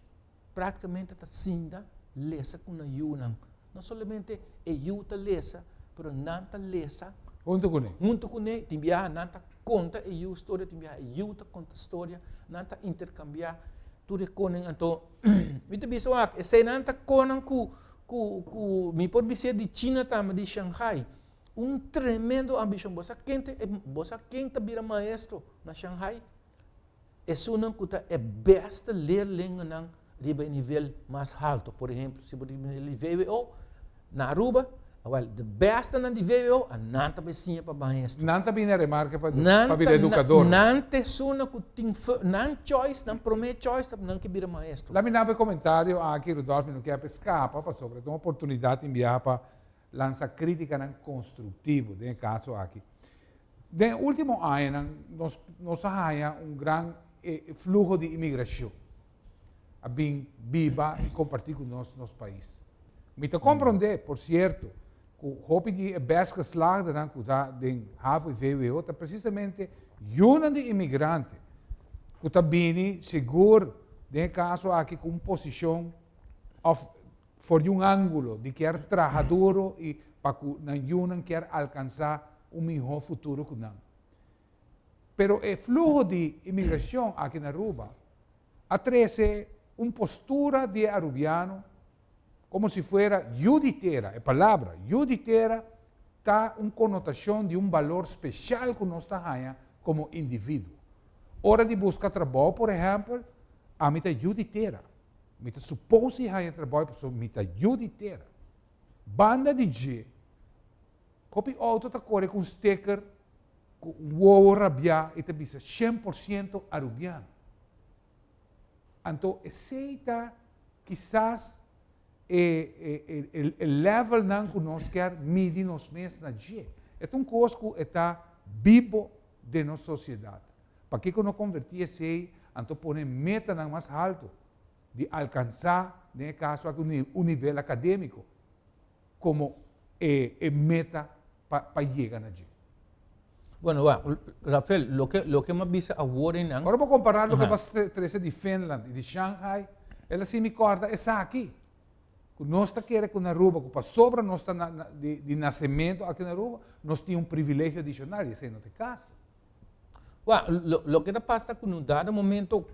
Práktikamente ta sinda lesa ku nan yunan. No solamente e yu ta lesa, pero nan ta lesa Huntu kuné. huntu kuné. Tin biaha nan ta konta e yu storia, tin biaha e yu ta konta storia. Nan ta interkambiá tur e konen. Anto, mi ta bisa wak, eseinan ta konan ku, ku, ku, mi por bis'é di china tambe, di shanghai. Un tremendo ambishon. Bo sa kente, bo sa ken ta bira maestro na shanghai? Esunnan ku ta e bèste leer lenguanan riba e nivel mas haltu. Por ehempel, si bo ta bini di VWO na Aruba, awèl, de bèstenan di VWO a nan ta bai siña pa bahestu. Nan ta bini a remarka pa pa bira edukador. Nan ta esunnan ku tin nan choice, nan promé choice ta nan ke bira maestro. Laminabo e komentario aki, Rudolf, mi no ke hapi skapa pasobra ta un oportunidat tin biaha pa. lansa critikanan constructivo, den e caso aki. Den e ultimo añanan nos nos a haña un gran fluho di imigracion a bin biba y comparti cu nos nos pais. Mi ta comprende, por cierto, cu hopi di e best geslaagdenan cu ta den HAVO y VWO ta precisamente yunan di imigrante cu ta bini segur, den e caso aki, cu un posicion of for di un angulo di kier traha duro y pa cu nan yunan kier alcansa un miho futuro cu nan. Pero e fluho di inmigracion aki na Aruba a trece un postura di e Arubiano como si fuera yu di tera, e palabra yu di tera ta un connotacion di un balor special cu nos ta haya como individuo. Ora di busca trabao por ehempel, ami ta yu di tera. Mi ta supos di haña trabou pasobra mi ta yu di tera. Banda di dje, kop e outo ta kore ku un steker ku un wowo rabiá i ta bisa shen por siento Arubiano. Anto esei ta kisas e lèvèlnan ku nos ker midi nos mes na dje. E ta un kos ku e ta bibo den nos sosiedat. Pakico no converti esey anto pone metanan mas halto di alcansa den e caso aki un nivel academico como e meta pa yega na dje? Bueno, wak, Rafael, loke m'ha bisa awor eynan. Ora bo compara loke bo a trece di Finland y di Shanghai, el a haci mi corda esaki, cu nos ta kere cu na Aruba, cu pasobra nos ta di nacemento aki na Aruba, nos tin un privilegio adicional y esey no ta e caso. Bua, loke ta pasa ta ku nos dado momento,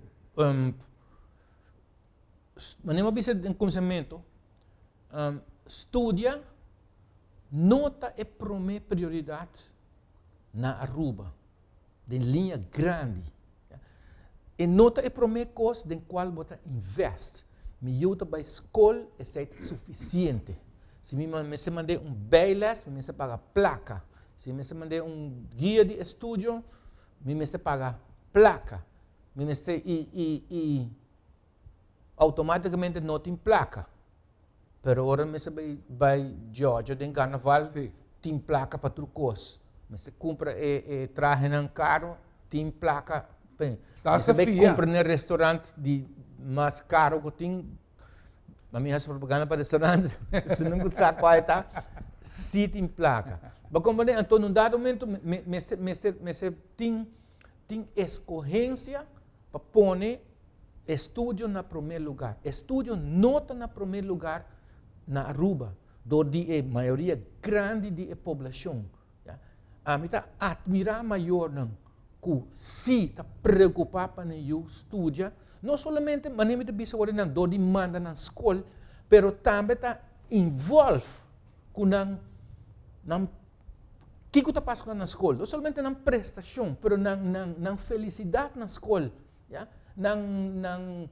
mane bo a bisa den kuminsamentu, studia no ta e prome prioridat na aruba, den liña grandi. E no ta e prome kos den kual bo ta invèst. Mi yu ta bai skol, esei ta sufisiente. Si mi mester mand'é un bijles, mi mester paga plaka. Si mi mester mand'é un guia di estudio, mi mester paga plaka. Mi mester, i, i, i automáticamente no tin plaka. pero ora mester bay bay Georgia den carnaval si tin placa pa tur cos mester cumpra e e trahenan caro tin placa p'e mester bay cumpra na e restaurant di mas caro cu tin a mi haci propaganda pa restaurant esnan cu sa cua eta si tin placa bo comprende enton en un dado momento mester mester mester tin tin escogencia pa pone. Estudio na prome lugar. Estudio no ta na prome lugar na Aruba, dor di e mayoria grandi di e poblashon. Ami ta atmirá mayornan ku sí ta preokupá pa nan yu studia, no solamente manera mi ta bisa awor di nan dor di manda nan skol, pero tambe ta involve ku nan, nan, kiko ta pasa ku nan na skol? No solamente nan prestashon, pero nan, nan, nan felisidat na skol. Ya. Nan, nan,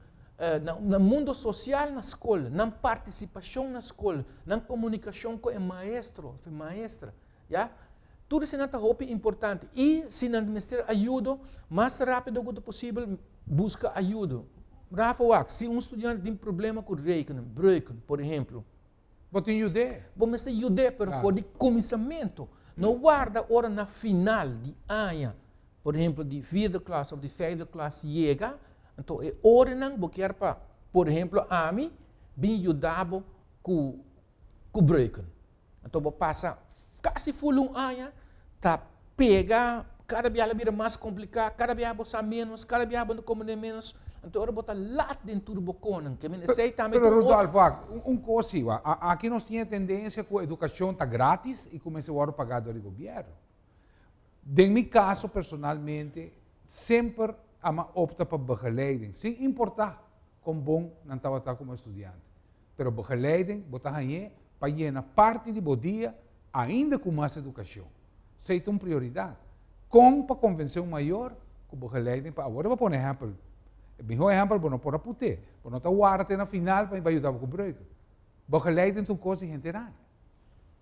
nan mundo sosial na skol, nan partisipashon na skol, nan komunikashon ku e maestro òf e maestra, ya. Tur esanan ta hopi importante. I si nan mester ayudo, mas rápido ku ta posibel buska ayudo. Rafa, wak, si un studiante tin problema ku rekenen, breuken, por ehemplo. Bo tin yud'é. Bo mester yud'é, pero for di kuminsamentu. No warda ora na final di aña, por ehempel di vierde klas òf di vijfde klas yega, anto e orenan bo kier pa, por ehempel ami, bin yuda bo ku ku breuken. Anto bo pasa kasi ful un aña ta pega, kada biaha la bira mas kompliká, kada biaha bo sa ménos, kada biaha bo ta komprendé ménos, anto ora bo ta lat den tur bo konan, ke mester esei tambe Pero Rudolfo, ak, un kos si, wa, a, aki nos tin e tendensia ku edukashon ta grátis i ku mester wòrdu pagá dor di gobièrnu. Den mi kaso personalmente, semper a mi a opta pa begeleiding, sin importá kon bon nan tabata komo estudiante. pero bo geleiden bo ta hañ'é pa yena parti di bo dia ainda ku mas edukashon. Esei ta un prioridat. Kon pa konvensé un mayor ku bo geleiden pa awor? I bo a pone ehèmpel. E mihó ehèmpel bo no por a put'é. Bo no ta warda te na final pa mi bai yuda bo ku breuke. Bo geleiden ta un kos di henter aña.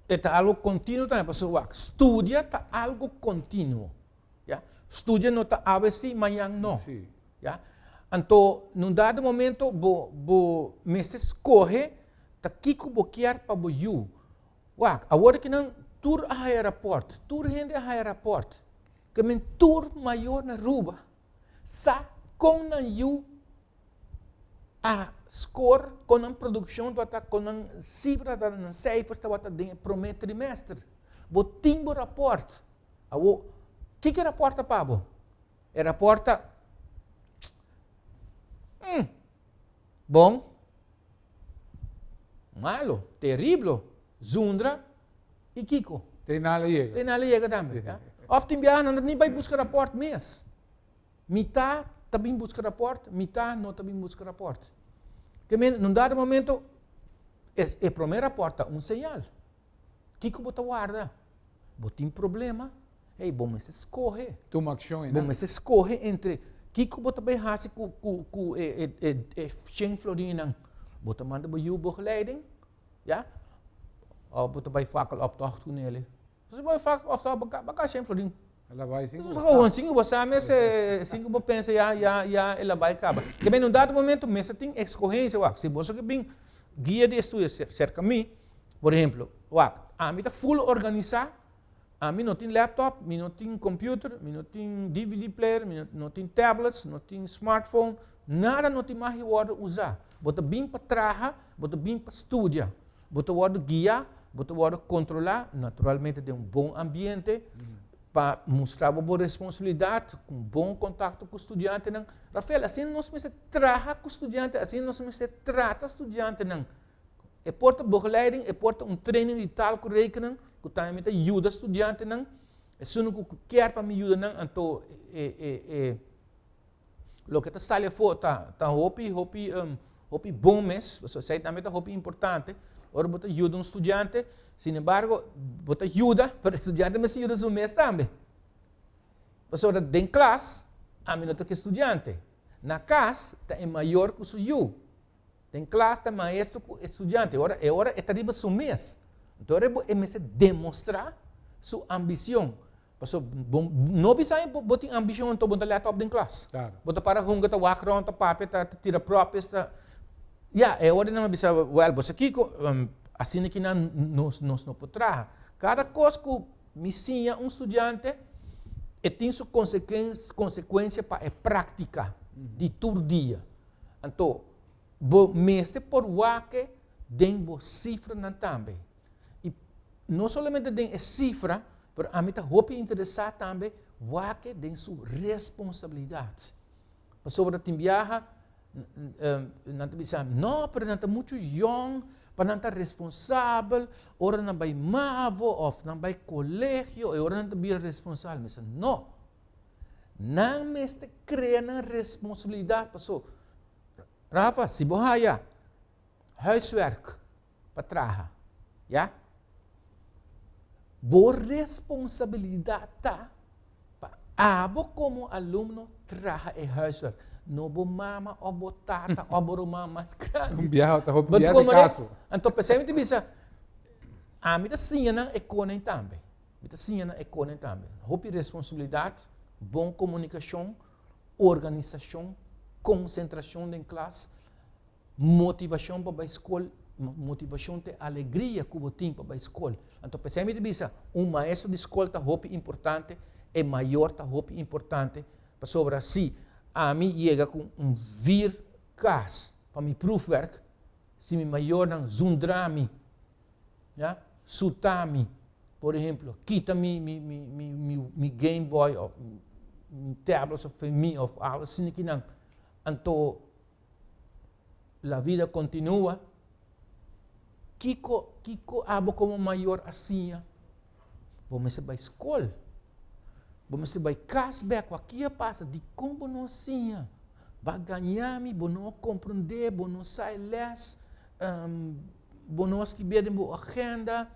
E ta algo kontinuo tambe, pasobra wak, studia ta algo kontinuo. Ya. Studia no ta awe sí, mañan no. Ya. Anto, na un dado momento bo, bo mester skohe ta kiko bo kier pa bo yu. Wak, awor ki nan tur a haya rapòrt, tur hende a haya rapòrt, ke men tur mayor na Aruba sa kon nan yu a score kon nan produkshon tabata kon nan sifra tabata nan seifers tabata den e promé trimester bo tin bo rapòrt awo kiko e rapòrt ta pa bo e rapòrt ta hmm bon malo teriblo zundra i kiko trinal a yega trinal a yega tambe of tin biaha nan ta ni bai buska rapòrt mes Mitá ta bin buska rapòrt, mitá no ta bin buska rapòrt. Te mira, nun dado momento, e, e promé rapòrt ta un señal. Kiko bo ta warda? Bo tin problema? Hey, bo mester skohe. Tuma akshon einan. Bo mester skohe entre kiko bo ta bai hasi ku, ku, ku e, e, e, e shen florin einan. Bo ta manda bo yu, bo geleiden, ja? Of bo ta bai fakeloptocht ku nele. Entonces bo fak of tabata bo kaba shen florin. El a bai sin ku bo sa. Sin ku bo sa mes e sin ku bo pensa ya ya ya el a bai kaba. Te men un dado momento mes a tin excogencia wak si boso ke bin guia di estudio cerca mi por ehemplo wak ami ta full organisa ami no tin laptop mi no tin computer mi no tin dvd player mi no tin tablets no tin smartphone nada no tin magi wordo usa bo ta bin pa traha bo ta bin pa studia. Bo ta wòrdu guia, bo ta wòrdu kontrolá, naturalmente den un bon ambiente, pa mustra bo bo responsabilidat, ku un bon kontakto ku studiantenan. Rafael, asina nos mester traha ku studiante, asina nos mester trata studiantenan. E por ta bogeleiding, e por ta un training di tal ku rekening, ku tambe mi ta yuda studiantenan. Esun ku kier pa mi yuda nan, anto e loke ta sali afo ta hopi, hopi, hopi bon mes, pasobra esei tambe ta hopi importante, ora bo ta yuda un studiante, sin embargo bo ta yuda, pero e studiante mester yuda su mes tambe, pasobra den klas ami no ta ke studiante, na kas ta e mayor ku su yu. Den klas ta maestro ku e studiante, ora e ora e ta riba su mes. Anto rebo e mester demostrá su ambishon. Paso bo no bisa e bo tin ambishon anto bo ta lèt òp den klas. Klaro. Bo ta para hunga, ta wak rònt, ta papia, ta tira pròpies, ta Ya, e ora nan a bisa, wèl, bo sa kiko, asina ki nan nos nos no por traha. Kada kos ku mi siña un studiante e tin su konsekuensia pa e práktika di tur dia. Anto, bo mester por wak den bo sifranan tambe. I no solamente den e sifra, pero ami ta hopi interesá tambe wak den su responsabilidat. Pasobra tin biaha nan ta bisa, no, pero nan ta muchu yòn pa nan ta responsabel ora nan bai mavo òf nan bai kolegio, e ora nan ta bira responsabel. Mi bisa, no. Nan mester crea nan responsabilidad. Paso, Rafa, si bo haya huiswerk pa traha, ya? Bo responsabilidad ta pa abo como alumno traha e huiswerk. No bo mama of bo tata of bo ruman mas grandi. Cambiado, ta hopi biaha di caso. Anto, p'esei mi ta bisa, ami ta siña nan e cona ei tambe. Mi ta siña na Econen tambe. Hopi responsabilidat, bon komunikashon, organisashon, konsentrashon den klas, motivashon pa bai skol, motivashon te alegria ku bo tin pa bai skol. Anto p'esei mi ta bisa un maestro di skol ta hopi importante, e mayor ta hopi importante, pasobra si ami yega ku un vir kas pa mi proefwerk, Si mi mayornan zundra mi, ya, suta mi, por ehemplo, kita mi, mi, mi, mi, mi, mi Game Boy of mi tablets of mi of algo así ni kinan, anto la vida continua, kiko, kiko abo como mayor a siña Bo mester bai skol. Bo mester bai kas bek ku a kia pasa. Dikon bo no a siña? Bo a gaña mi, bo no a komprondé, bo no sa e lès, bo no a skibié den bo agenda,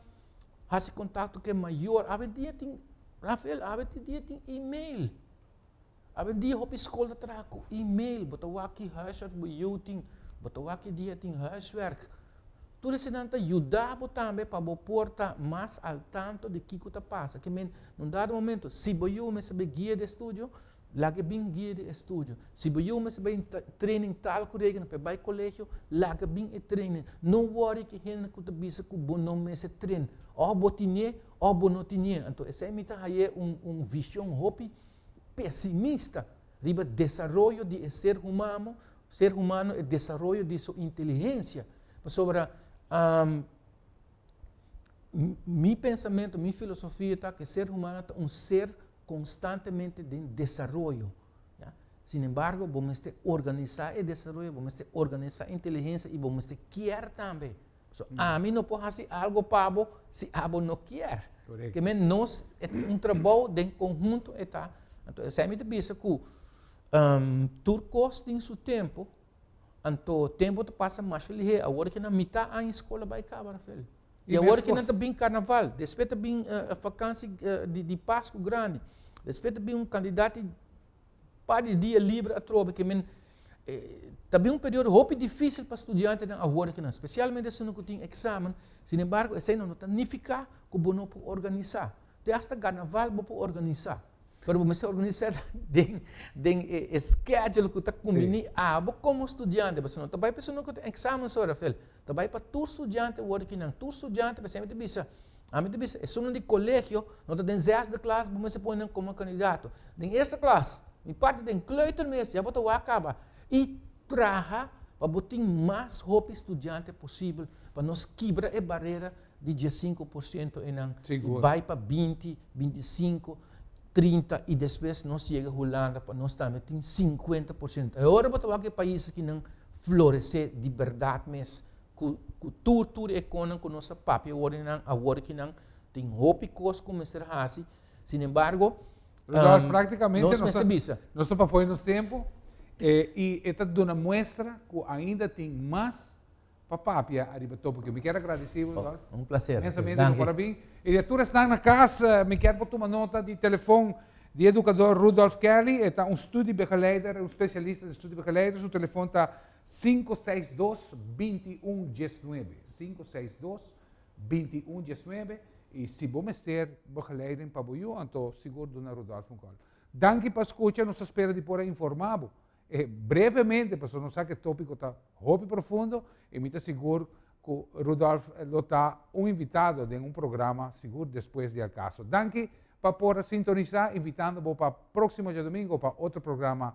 hasi kontakto ku e mayor. Awe dia tin, Rafael, awe tin dia tin email. Awe dia hopi skol ta traha ku email, bo ta wak huiswerk bo yu tin, bo ta wak e dia tin huiswerk. Tur esanan ta yuda bo tambe pa bo por ta mas al tanto di kiko ta pasa. Ke men, na un dado momento, si bo yu mester bai guia di estudio, laga e bin guia di estudio. Si bo yu mester bai training tal ku regio, mester bai kolegio, laga bin e training. No wòri ku e hende ku ta bisa ku bo no mester tren. Òf bo tinié, òf bo no tinié. Anto esei mi ta hañ'é un vishon hopi pesimista riba desaroyo di e ser humamo, ser humano, e desaroyo di su inteligensia. Pasobra um, mi pensamiento, mi filosofia ta que ser humano ta un ser constantemente de desarrollo. ¿ya? Sin embargo, vos meste organizar el desarrollo, vos meste organizar inteligencia y vos meste kier también. So, ami no por hasi algo pa bo si abo no kier. Correcto. Te nos, e ta un trabou den conhunto e ta. Anto, esei mi ta bisa cu um, tur cos tin su tempo, anto tempo ta pasa masha lihe, awor ki nan mita aña scola bay caba, Rafael. Y awor mescos. ki nan ta bin carnaval, despues ta bin uh, vakantie uh, di, di pascu grandi, despues ta bin un cantidad di. par di dia liber atrobe ke men e ta bin un periodo hopi dificil pa studiantenan ahora ke nan specialmente esunnan ku tin examen sin embargo esei no ta nifica ku bo no por organisa te hasta garnaval bo por organisa pero bo mester organisa den den e e schedule ku ta kumbini abo komo studiante pasobra no ta bai pa esunnan ku tin examen so Rafael ta bai pa tur studiante awor aki nan tur studiante bo siempre ta bisa Ami ta bisa, esunnan di colegio, no ta den zesde klas, bo mester pone nan como candidato. Den eerste klas, mi parti den kleutermeester, ya bo ta wak kaba. I traha pa bo tin mas hopi studiante posibel, pa nos kibra e barera di diesinco por ciento einan, i bai pa binti, bintisinko, trinta, i despues nos yega Hulanda, pa nos tambe tin sinkuenta por ciento. E ora bo ta wak e pais akinan florece di berdad mes. ku, ku tur, tur e konan ku nos a papia wòrdu di nan, awor ki nan tin hopi kos ku mester hasi, sinembargo, Rodolf, um, prácticamente nos nos mester ta- bisa. Nos ta pafoi nos tempo eh, y e ta duna muestra cu ainda tin mas pa papia ariba topiki. Yo mi kier agradeci bo, Rodolf. Ok, un placer. Inmensamente Dank bo por e. a bin. Y di a tur esnan na cas, eh, mi kier bo tuma nota di telefon di educador Rudolf Kelly. E ta un studiebegeleider, un specialista den studiebegeleider. Su telefon ta. Sinku seis dos binti un dies nuebe sinku seis dos binti un dies nuebe y si bo mester begeleiding pa bo yu anto sigur duna Rodolfo un call. Danki pa scucha nos ta spera di por a informa bo e brevemente pasobra nos sa cu e topico ta hopi profundo y mi ta sigur cu Rodolfo lo ta un invitado den un programa sigur despues di El Caso. Danki pa por a sintonisa invitando bo pa proximo diadomingo pa otro programa